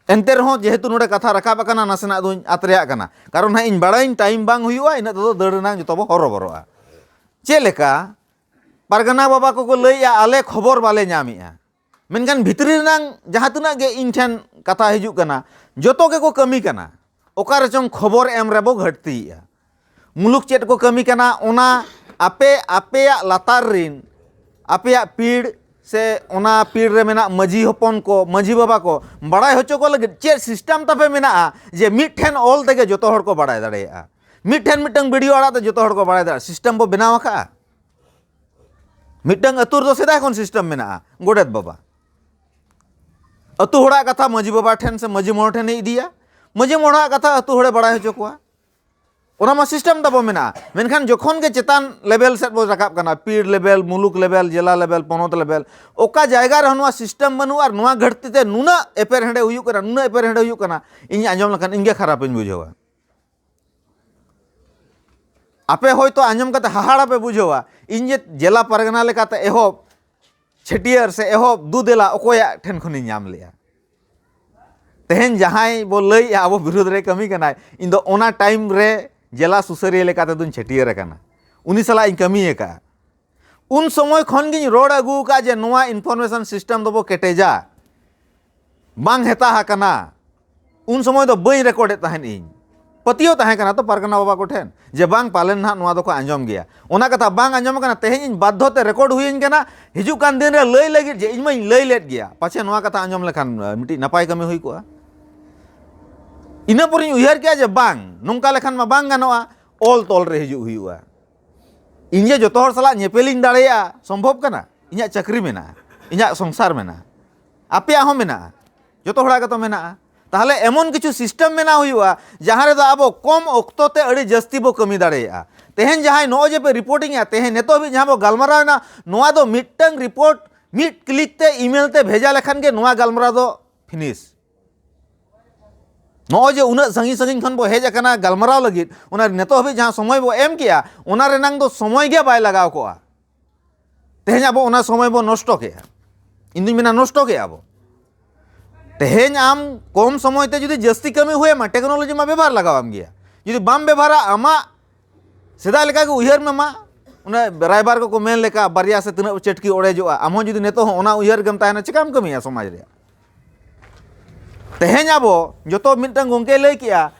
ᱮᱱᱛᱮ ᱨᱮᱦᱚᱸ ᱡᱮᱦᱮᱛᱩ ᱱᱚᱰᱮ ᱠᱟᱛᱷᱟ ᱨᱟᱠᱟᱵ ᱟᱠᱟᱱᱟ ᱱᱟᱥᱮᱱᱟᱜ ᱫᱚᱧ ᱟᱛ ᱨᱮᱭᱟᱜ ᱠᱟᱱᱟ ᱠᱟᱨᱚᱱ ᱱᱟᱦᱟᱜ ᱤᱧ ᱵᱟᱲᱟᱭᱟᱹᱧ ᱴᱟᱭᱤᱢ ᱵᱟᱝ ᱦᱩᱭᱩᱜᱼᱟ ᱤᱱᱟᱹᱜ ᱛᱮᱫᱚ ᱫᱟᱹᱲ ᱨᱮᱱᱟᱜ ᱡᱚᱛᱚ ᱵᱚ ᱦᱚᱨᱚᱵᱚᱨᱚᱜᱼᱟ ᱪᱮᱫ ᱞᱮᱠᱟ ᱯᱟᱨᱜᱟᱱᱟ ᱵᱟᱵᱟ ᱠᱚᱠᱚ ᱞᱟᱹᱭᱮᱜᱼᱟ ᱟᱞᱮ ᱠᱷᱚᱵᱚᱨ ᱵᱟᱞᱮ ᱧᱟᱢᱮᱜᱼᱟ ᱢᱮᱱᱠᱷᱟᱱ ᱵᱷᱤᱛᱨᱤ ᱨᱮᱱᱟᱝ ᱡᱟᱦᱟᱸ ᱛᱤᱱᱟᱹᱜ ᱜᱮ ᱤᱧ ᱴᱷᱮᱱ ᱠᱟᱛᱷᱟ ᱦᱤᱡᱩᱜ ᱠᱟᱱᱟ ᱡᱚᱛᱚ ᱜᱮᱠᱚ ᱠᱟᱹᱢᱤ ᱠᱟᱱᱟ ᱚᱠᱟ ᱨᱮᱪᱚᱝ ᱠᱷᱚᱵᱚᱨ ᱮᱢ ᱨᱮᱵᱚ ᱜᱷᱟᱹᱴᱛᱤᱭᱮᱜᱼᱟ ᱢᱩᱞᱩᱠ ᱪᱮᱫ ᱠᱚ ᱠᱟᱹᱢᱤ ᱠᱟᱱᱟ ᱚᱱᱟ ᱟᱯᱮ ᱟᱯᱮᱭᱟᱜ ᱞᱟᱛᱟᱨ ᱨᱤᱱ ᱟᱯᱮᱭᱟᱜ ᱯᱤᱲ ᱥᱮ ᱚᱱᱟ ᱯᱤᱲ ᱨᱮ ᱢᱮᱱᱟᱜ ᱢᱟᱹᱡᱷᱤ ᱦᱚᱯᱚᱱ ᱠᱚ ᱢᱟᱹᱡᱷᱤ ᱵᱟᱵᱟ ᱠᱚ ᱵᱟᱲᱟᱭ ᱦᱚᱪᱚ ᱠᱚ ᱞᱟᱹᱜᱤᱫ ᱪᱮᱫ ᱥᱤᱥᱴᱮᱢ ᱛᱟᱯᱮ ᱢᱮᱱᱟᱜᱼᱟ ᱡᱮ ᱢᱤᱫᱴᱷᱮᱱ ᱚᱞ ᱛᱮᱜᱮ ᱡᱚᱛᱚ ᱦᱚᱲ ᱠᱚ ᱵᱟᱲᱟᱭ ᱫᱟᱲᱮᱭᱟᱜᱼᱟ ᱢᱤᱫᱴᱷᱮᱱ ᱢᱤᱫᱴᱟᱝ ᱵᱷᱤᱰᱤᱭᱳ ᱟᱲᱟᱜ ᱛᱮ ᱡᱚᱛᱚ ᱦᱚᱲ ᱠᱚ ᱵᱟᱲᱟᱭ ᱫᱟᱲᱮᱭᱟᱜᱼᱟ ᱥᱤᱥᱴᱮᱢ ᱵᱚ ᱵᱮᱱᱟᱣ ᱟᱠᱟᱜᱼᱟ ᱢᱤᱫᱴᱟᱝ ᱟᱹᱛᱩ ᱨᱮᱫᱚ ᱥᱮᱫᱟᱭ ᱠᱷᱚᱱ ᱥᱤᱥᱴᱮᱢ ᱢᱮᱱᱟᱜᱼᱟ ᱜᱚᱰᱮᱛ ᱵᱟᱵᱟ ᱟᱹᱛᱩ ᱦᱚᱲᱟᱜ ᱠᱟᱛᱷᱟ ᱢᱟᱺᱡᱷᱤ ᱵᱟᱵᱟ ᱴᱷᱮᱱ ᱥᱮ ᱢᱟᱺᱡᱷᱤ ᱢᱚᱬᱮ ᱴᱷᱮᱱᱮ ᱤᱫᱤᱭᱟ ᱢᱟᱺᱡᱷᱤ ᱢᱚᱬᱟᱜ ᱠᱟᱛᱷᱟ ᱟᱹᱛᱩ ᱦᱚᱲᱮ ᱵᱟᱲᱟᱭ ᱦᱚᱪᱚ ᱠᱚᱣᱟ ᱚᱱᱟ ᱢᱟ ᱥᱤᱥᱴᱮᱢ ᱛᱟᱵᱚ ᱢᱮᱱᱟᱜᱼᱟ ᱢᱮᱱᱠᱷᱟᱱ ᱡᱚᱠᱷᱚᱱ ᱜᱮ ᱪᱮᱛᱟᱱ ᱞᱮᱵᱮᱞ ᱥᱮᱫ ᱵᱚ ᱨᱟᱠᱟᱵ ᱠᱟᱱᱟ ᱯᱤᱲ ᱞᱮᱵᱮᱞ ᱢᱩᱞᱩᱠ ᱞᱮᱵᱮᱞ ᱡᱮᱞᱟ ᱞᱮᱵᱮᱞ ᱯᱚᱱᱚᱛ ᱞᱮᱵᱮᱞ ᱚᱠᱟ ᱡᱟᱭᱜᱟ ᱨᱮᱦᱚᱸ ᱱᱚᱣᱟ ᱥᱤᱥᱴᱮᱢ ᱵᱟᱹᱱᱩᱜᱼᱟ ᱟᱨ ᱱᱚᱣᱟ ᱜᱷᱟᱹᱴᱛᱤ ᱛᱮ ᱱᱩᱱᱟᱹᱜ ᱮᱯᱮᱨᱦᱮᱸᱰᱮ ᱦᱩᱭᱩᱜ ᱠᱟᱱᱟ ᱱᱩᱱᱟᱹᱜ ᱮᱯᱮᱨᱦᱮᱸᱰᱮ ᱦᱩᱭᱩᱜ ᱠᱟᱱᱟ ᱤᱧ ᱟᱸᱡᱚᱢ ᱞᱮᱠᱷᱟᱱ ᱤᱧᱜᱮ ᱠᱷᱟᱨᱟᱯᱤᱧ ᱵᱩᱡᱷᱟᱹᱣᱟ ᱟᱯᱮ ᱦᱚᱭᱛᱳ ᱟᱸᱡᱚᱢ ᱠᱟᱛᱮ ᱦᱟᱦᱟᱲᱟ ᱯᱮ ᱵᱩᱡᱷᱟᱹᱣᱟ ᱤᱧ ᱡᱮ ᱡᱮᱞᱟ ᱯᱟᱨᱜᱟᱱᱟ ᱞᱮᱠᱟᱛᱮ ᱮᱦᱚᱵ ᱪᱷᱟᱹᱴᱭᱟᱹᱨ ᱥᱮ ᱮᱦᱚᱵ ᱫᱩ ᱫᱮᱞᱟ ᱚᱠᱚᱭᱟᱜ ᱴᱷᱮᱱ ᱠᱷᱚᱱᱤᱧ ᱧᱟᱢ ᱞᱮᱜᱼᱟ ᱛᱮᱦᱮᱧ ᱡᱟᱦᱟᱸᱭ ᱵᱚ ᱞᱟᱹᱭᱮᱜᱼᱟ ᱟᱵᱚ ᱵᱤᱨᱩᱫᱷ ᱨᱮ ᱠᱟᱹᱢᱤ ᱠᱟᱱᱟᱭ ᱤᱧ ᱫᱚ ᱚᱱᱟ ᱴᱟᱭᱤᱢ ᱨᱮ ᱡᱮᱞᱟ ᱥᱩᱥᱟᱹᱨᱤᱭᱟᱹ ᱞᱮᱠᱟᱛᱮ ᱫᱚᱧ ᱪᱷᱟᱹᱴᱭᱟᱹᱨ ᱟᱠᱟᱱᱟ ᱩᱱᱤ ᱥᱟᱞᱟᱜ ᱤᱧ ᱠᱟᱹᱢᱤ ᱟᱠᱟᱫᱼᱟ ᱩᱱ ᱥᱚᱢᱚᱭ ᱠᱷᱚᱱ ᱜᱤᱧ ᱨᱚᱲ ᱟᱹᱜᱩ ᱟᱠᱟᱫ ᱡᱮ ᱱᱚᱣᱟ ᱤᱱᱯᱷᱚᱨᱢᱮᱥᱚᱱ ᱥᱤᱥᱴᱮᱢ ᱫᱚᱵᱚ ᱠᱮᱴᱮᱡᱟ ᱵᱟᱝ ᱦᱮᱛᱟ ᱟᱠᱟᱱᱟ ᱩᱱ ᱥᱚᱢᱚᱭ ᱫᱚ ᱵᱟᱹᱧ ᱨᱮᱠᱚᱨᱰᱮᱫ ᱛᱟᱦᱮᱸᱫ ᱤᱧ ᱯᱟᱹᱛᱭᱟᱹᱣ ᱛᱟᱦᱮᱸ ᱠᱟᱱᱟ ᱛᱚ ᱯᱟᱨᱜᱟᱱᱟ ᱵᱟᱵᱟ ᱠᱚᱴᱷᱮᱱ ᱡᱮ ᱵᱟᱝ ᱯᱟᱞᱮᱱ ᱱᱟᱦᱟᱜ ᱱᱚᱣᱟ ᱫᱚᱠᱚ ᱟᱸᱡᱚᱢ ᱜᱮᱭᱟ ᱚᱱᱟ ᱠᱟᱛᱷᱟ ᱵᱟᱝ ᱟᱸᱡᱚᱢ ᱟᱠᱟᱱᱟ ᱛᱮᱦᱮᱧ ᱤᱧ ᱵᱟᱫᱽᱫᱷᱚ ᱛᱮ ᱨᱮᱠᱚᱨᱰ ᱦᱩᱭᱟᱹᱧ ᱠᱟᱱᱟ ᱦᱤᱡᱩᱜ ᱠᱟᱱ ᱫᱤᱱ ᱨᱮ ᱞᱟᱹᱭ ᱞᱟᱹᱜᱤᱫ ᱡᱮ ᱤᱧ ᱢᱟᱧ ᱞᱟᱹᱭ ᱞᱮᱫ ᱜᱮᱭᱟ ᱯᱟᱪᱷᱮ ᱱᱚᱣᱟ ᱠᱟᱛᱷᱟ ᱟᱸᱡᱚᱢ ᱞᱮᱠᱷᱟᱱ ᱢᱤᱫᱴᱤᱡ ᱱᱟᱯᱟᱭ ᱠᱟᱹᱢᱤ ᱦᱩᱭ ᱠᱚᱜᱼᱟ ᱤᱱᱟᱹ ᱯᱚᱨᱮᱧ ᱩᱭᱦᱟᱹᱨ ᱠᱮᱜᱼᱟ ᱡᱮ ᱵᱟᱝ ᱱᱚᱝᱠᱟ ᱞᱮᱠᱷᱟᱱ ᱢᱟ ᱵᱟᱝ ᱜᱟᱱᱚᱜᱼᱟ ᱚᱞ ᱛᱚᱞ ᱨᱮ ᱦᱤᱡᱩᱜ ᱦᱩᱭᱩᱜᱼᱟ ᱤᱧ ᱜᱮ ᱡᱚᱛᱚ ᱦᱚᱲ ᱥᱟᱞᱟᱜ ᱧᱮᱯᱮᱞᱤᱧ ᱫᱟᱲᱮᱭᱟᱜᱼᱟ ᱥᱚᱢᱵᱷᱚᱵ ᱠᱟᱱᱟ ᱤᱧᱟᱹᱜ ᱪᱟᱹᱠᱨᱤ ᱢᱮᱱᱟᱜᱼᱟ ᱤᱧᱟᱹᱜ ᱥᱚᱝᱥᱟᱨ ᱢᱮᱱᱟᱜᱼᱟ ᱟᱯᱮᱭᱟᱜ ᱦᱚᱸ ᱢᱮᱱᱟᱜᱼᱟ ᱡᱚᱛᱚ ᱦᱚᱲᱟᱜ ᱜᱮᱛᱚ ᱢᱮᱱᱟᱜᱼᱟ ᱛᱟᱦᱚᱞᱮ ᱮᱢᱚᱱ ᱠᱤᱪᱷᱩ ᱥᱤᱥᱴᱮᱢ ᱢᱮᱱᱟᱜ ᱦᱩᱭᱩᱜᱼᱟ ᱡᱟᱦᱟᱸ ᱨᱮᱫᱚ ᱟᱵᱚ ᱠᱚᱢ ᱚᱠᱛᱚ ᱛᱮ ᱟᱹᱰᱤ ᱡᱟᱹᱥᱛᱤ ᱵᱚ ᱠᱟᱹᱢᱤ ᱫᱟᱲᱮᱭᱟᱜᱼᱟ ᱛᱮᱦᱮᱧ ᱡᱟᱦᱟᱸᱭ ᱱᱚᱜᱼᱚᱭ ᱡᱮ ᱯᱮ ᱨᱤᱯᱳᱨᱴᱤᱝ ᱮᱫᱟ ᱛᱮᱦᱮᱧ ᱱᱤᱛᱚᱜ ᱦᱟᱹᱵᱤᱡ ᱡᱟᱦᱟᱸ ᱵᱚ ᱜᱟᱞᱢᱟᱨᱟᱣ ᱮᱱᱟ ᱱᱚᱣᱟ ᱫᱚ ᱢᱤᱫᱴᱟᱝ ᱨᱤᱯᱳᱨᱴ ᱢᱤᱫ ᱠᱞᱤᱠ ᱛᱮ ᱤᱢᱮᱞ ᱛᱮ ᱵᱷᱮᱡᱟ ᱞᱮᱠᱷᱟᱱ ᱜᱮ ᱱᱚᱣᱟ ᱜᱟᱞᱢᱟᱨᱟᱣ ᱫᱚ ᱯᱷᱤᱱᱤᱥ ᱱᱚᱜᱼᱚᱭ ᱡᱮ ᱩᱱᱟᱹᱜ ᱥᱟᱺᱜᱤᱧ ᱥᱟᱺᱜᱤᱧ ᱠᱷᱚᱱ ᱵᱚ ᱦᱮᱡ ᱟᱠᱟᱱᱟ ᱜᱟᱞᱢᱟᱨᱟᱣ ᱞᱟᱹᱜᱤᱫ ᱚᱱᱟ ᱱᱤᱛᱚᱜ ᱦᱟᱹᱵᱤᱡ ᱡᱟᱦᱟᱸ ᱥᱚᱢᱚᱭ ᱵᱚ ᱮᱢ ᱠᱮᱜᱼᱟ ᱚᱱᱟ ᱨᱮᱱᱟᱝ ᱫᱚ ᱥᱚᱢᱚᱭ ᱜᱮ ᱵᱟᱭ ᱞᱟᱜᱟᱣ ᱠᱚᱜᱼᱟ ᱛᱮᱦᱮᱧ ᱟᱵᱚ ᱚᱱᱟ ᱥᱚᱢᱚᱭ ᱵᱚ ᱱᱚᱥᱴᱚ ᱠᱮᱜᱼᱟ ᱤᱧ ᱫᱩᱧ ᱢᱮᱱᱟ ᱱᱚᱥᱴᱚ ᱠᱮᱜᱼᱟ ᱵᱚ ᱛᱮᱦᱮᱧ ᱟᱢ ᱠᱚᱢ ᱥᱚᱢᱚᱭ ᱛᱮ ᱡᱩᱫᱤ ᱡᱟᱹᱥᱛᱤ ᱠᱟᱹᱢᱤ ᱦᱩᱭᱟᱢᱟ ᱴᱮᱠᱱᱳᱞᱚᱡᱤ ᱢᱟ ᱵᱮᱵᱷᱟᱨ ᱞᱟᱜᱟᱣᱟᱢ ᱜᱮᱭᱟ ᱡᱩᱫᱤ ᱵᱟᱢ ᱵᱮᱵᱷᱟᱨᱟ ᱟᱢᱟᱜ ᱥᱮᱫᱟᱭ ᱞᱮᱠᱟ ᱜᱮ ᱩᱭᱦᱟᱹᱨ ᱢᱮ ᱢᱟ ᱚᱱᱟ ᱨᱟᱭᱵᱟᱨ ᱠᱚᱠᱚ ᱢᱮᱱ ᱞᱮᱠᱟ ᱵᱟᱨᱭᱟ ᱥᱮ ᱛᱤᱱᱟᱹᱜ ᱪᱟᱹᱴᱠᱤ ᱚᱲᱮᱡᱚᱜᱼᱟ ᱟᱢ ᱦᱚᱸ ᱡᱩᱫᱤ ᱱᱤᱛᱚᱜ ᱦᱚᱸ ᱚᱱᱟ ᱩᱭᱦᱟᱹᱨ ᱜᱮᱢ ᱛᱟᱦᱮᱱᱟ ᱪᱮᱠᱟᱢ ᱠᱟᱹᱢᱤᱭᱟ ᱥᱚᱢᱟᱡᱽ ᱨᱮᱭᱟᱜ ᱛᱮᱦᱮᱧ ᱟᱵᱚ ᱡᱚᱛᱚ ᱢᱤᱫᱴᱟᱝ ᱜᱚᱝᱠᱮ ᱞᱟᱹᱭ ᱠᱮᱜᱼᱟ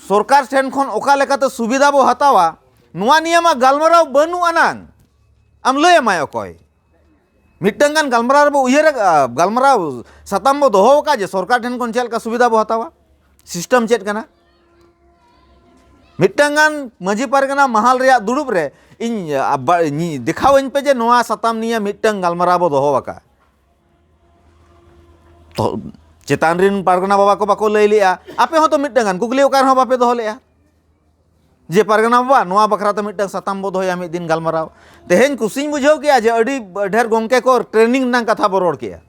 ᱥᱚᱨᱠᱟᱨ ᱴᱷᱮᱱ ᱠᱷᱚᱱ ᱚᱠᱟ ᱞᱮᱠᱟᱛᱮ ᱥᱩᱵᱤᱫᱷᱟ ᱵᱚ ᱦᱟᱛᱟᱣᱟ ᱱᱚᱣᱟ ᱱᱤᱭᱮ ᱢᱟ ᱜᱟᱞᱢᱟᱨᱟᱣ ᱵᱟᱹᱱᱩᱜ ᱟᱱᱟᱝ ᱟᱢ ᱞᱟᱹᱭ ᱟᱢᱟᱭ ᱚᱠᱚᱭ ᱢᱤᱫᱴᱟᱝ ᱜᱟᱱ ᱜᱟᱞᱢᱟᱨᱟᱣ ᱨᱮᱵᱚ ᱩᱭᱦᱟᱹᱨ ᱜᱟᱞᱢᱟᱨᱟᱣ ᱥᱟᱛᱟᱢ ᱵᱚ ᱫᱚᱦᱚ ᱟᱠᱟᱫ ᱡᱮ ᱥᱚᱨᱠᱟᱨ ᱴᱷᱮᱱ ᱠᱷᱚᱱ ᱪᱮᱫ ᱞᱮᱠᱟ ᱥᱩᱵᱤᱫᱷᱟ ᱵᱚ ᱦᱟᱛᱟᱣᱟ ᱥᱤᱥᱴᱮᱢ ᱪᱮᱫ ᱠᱟᱱᱟ ᱢᱤᱫᱴᱟᱝ ᱜᱟᱱ ᱢᱟᱹᱡᱷᱤ ᱯᱟᱨᱜᱟᱱᱟ ᱢᱟᱦᱟᱞ ᱨᱮᱭᱟᱜ ᱫᱩᱲᱩᱵ ᱨᱮ ᱤᱧ ᱫᱮᱠᱷᱟᱣᱟᱹᱧ ᱯᱮ ᱡᱮ ᱱᱚᱣᱟ ᱥᱟᱛᱟᱢ ᱱᱤᱭᱮ ᱢᱤᱫᱴᱟᱝ ᱜᱟᱞᱢᱟᱨᱟᱣ ᱵᱚ ᱫᱚᱦᱚ ᱟᱠᱟᱫᱼᱟ ᱛᱚ ᱪᱮᱛᱟᱱ ᱨᱮᱱ ᱯᱟᱨᱜᱟᱱᱟ ᱵᱟᱵᱟ ᱠᱚ ᱵᱟᱠᱚ ᱞᱟᱹᱭ ᱞᱮᱜᱼᱟ ᱟᱯᱮ ᱦᱚᱸᱛᱚ ᱢᱤᱫᱴᱟᱝ ᱜᱟᱱ ᱠᱩᱠᱞᱤ ᱚᱠᱟ ᱨᱮᱦᱚᱸ ᱵᱟᱯᱮ ᱫᱚᱦᱚ ᱞᱮᱜᱼᱟ ᱡᱮ ᱯᱟᱨᱜᱟᱱᱟ ᱵᱟᱵᱟ ᱱᱚᱣᱟ ᱵᱟᱠᱷᱨᱟ ᱛᱮ ᱢᱤᱫᱴᱟᱝ ᱥᱟᱛᱟᱢ ᱵᱚ ᱫᱚᱦᱚᱭᱟ ᱢᱤᱫ ᱫᱤᱱ ᱜᱟᱞᱢᱟᱨᱟᱣ ᱛᱮᱦᱮᱧ ᱠᱩᱥᱤᱧ ᱵᱩᱡᱷᱟᱹᱣ ᱠᱮᱜᱼᱟ ᱡᱮ ᱟᱹᱰᱤ ᱰᱷᱮᱨ ᱜᱚᱝᱠᱮ ᱠᱚ ᱴᱨᱮᱱᱤᱝ ᱨᱮᱱᱟᱜ ᱠᱟᱛᱷᱟ ᱵᱚ ᱨᱚᱲ ᱠᱮᱜᱼᱟ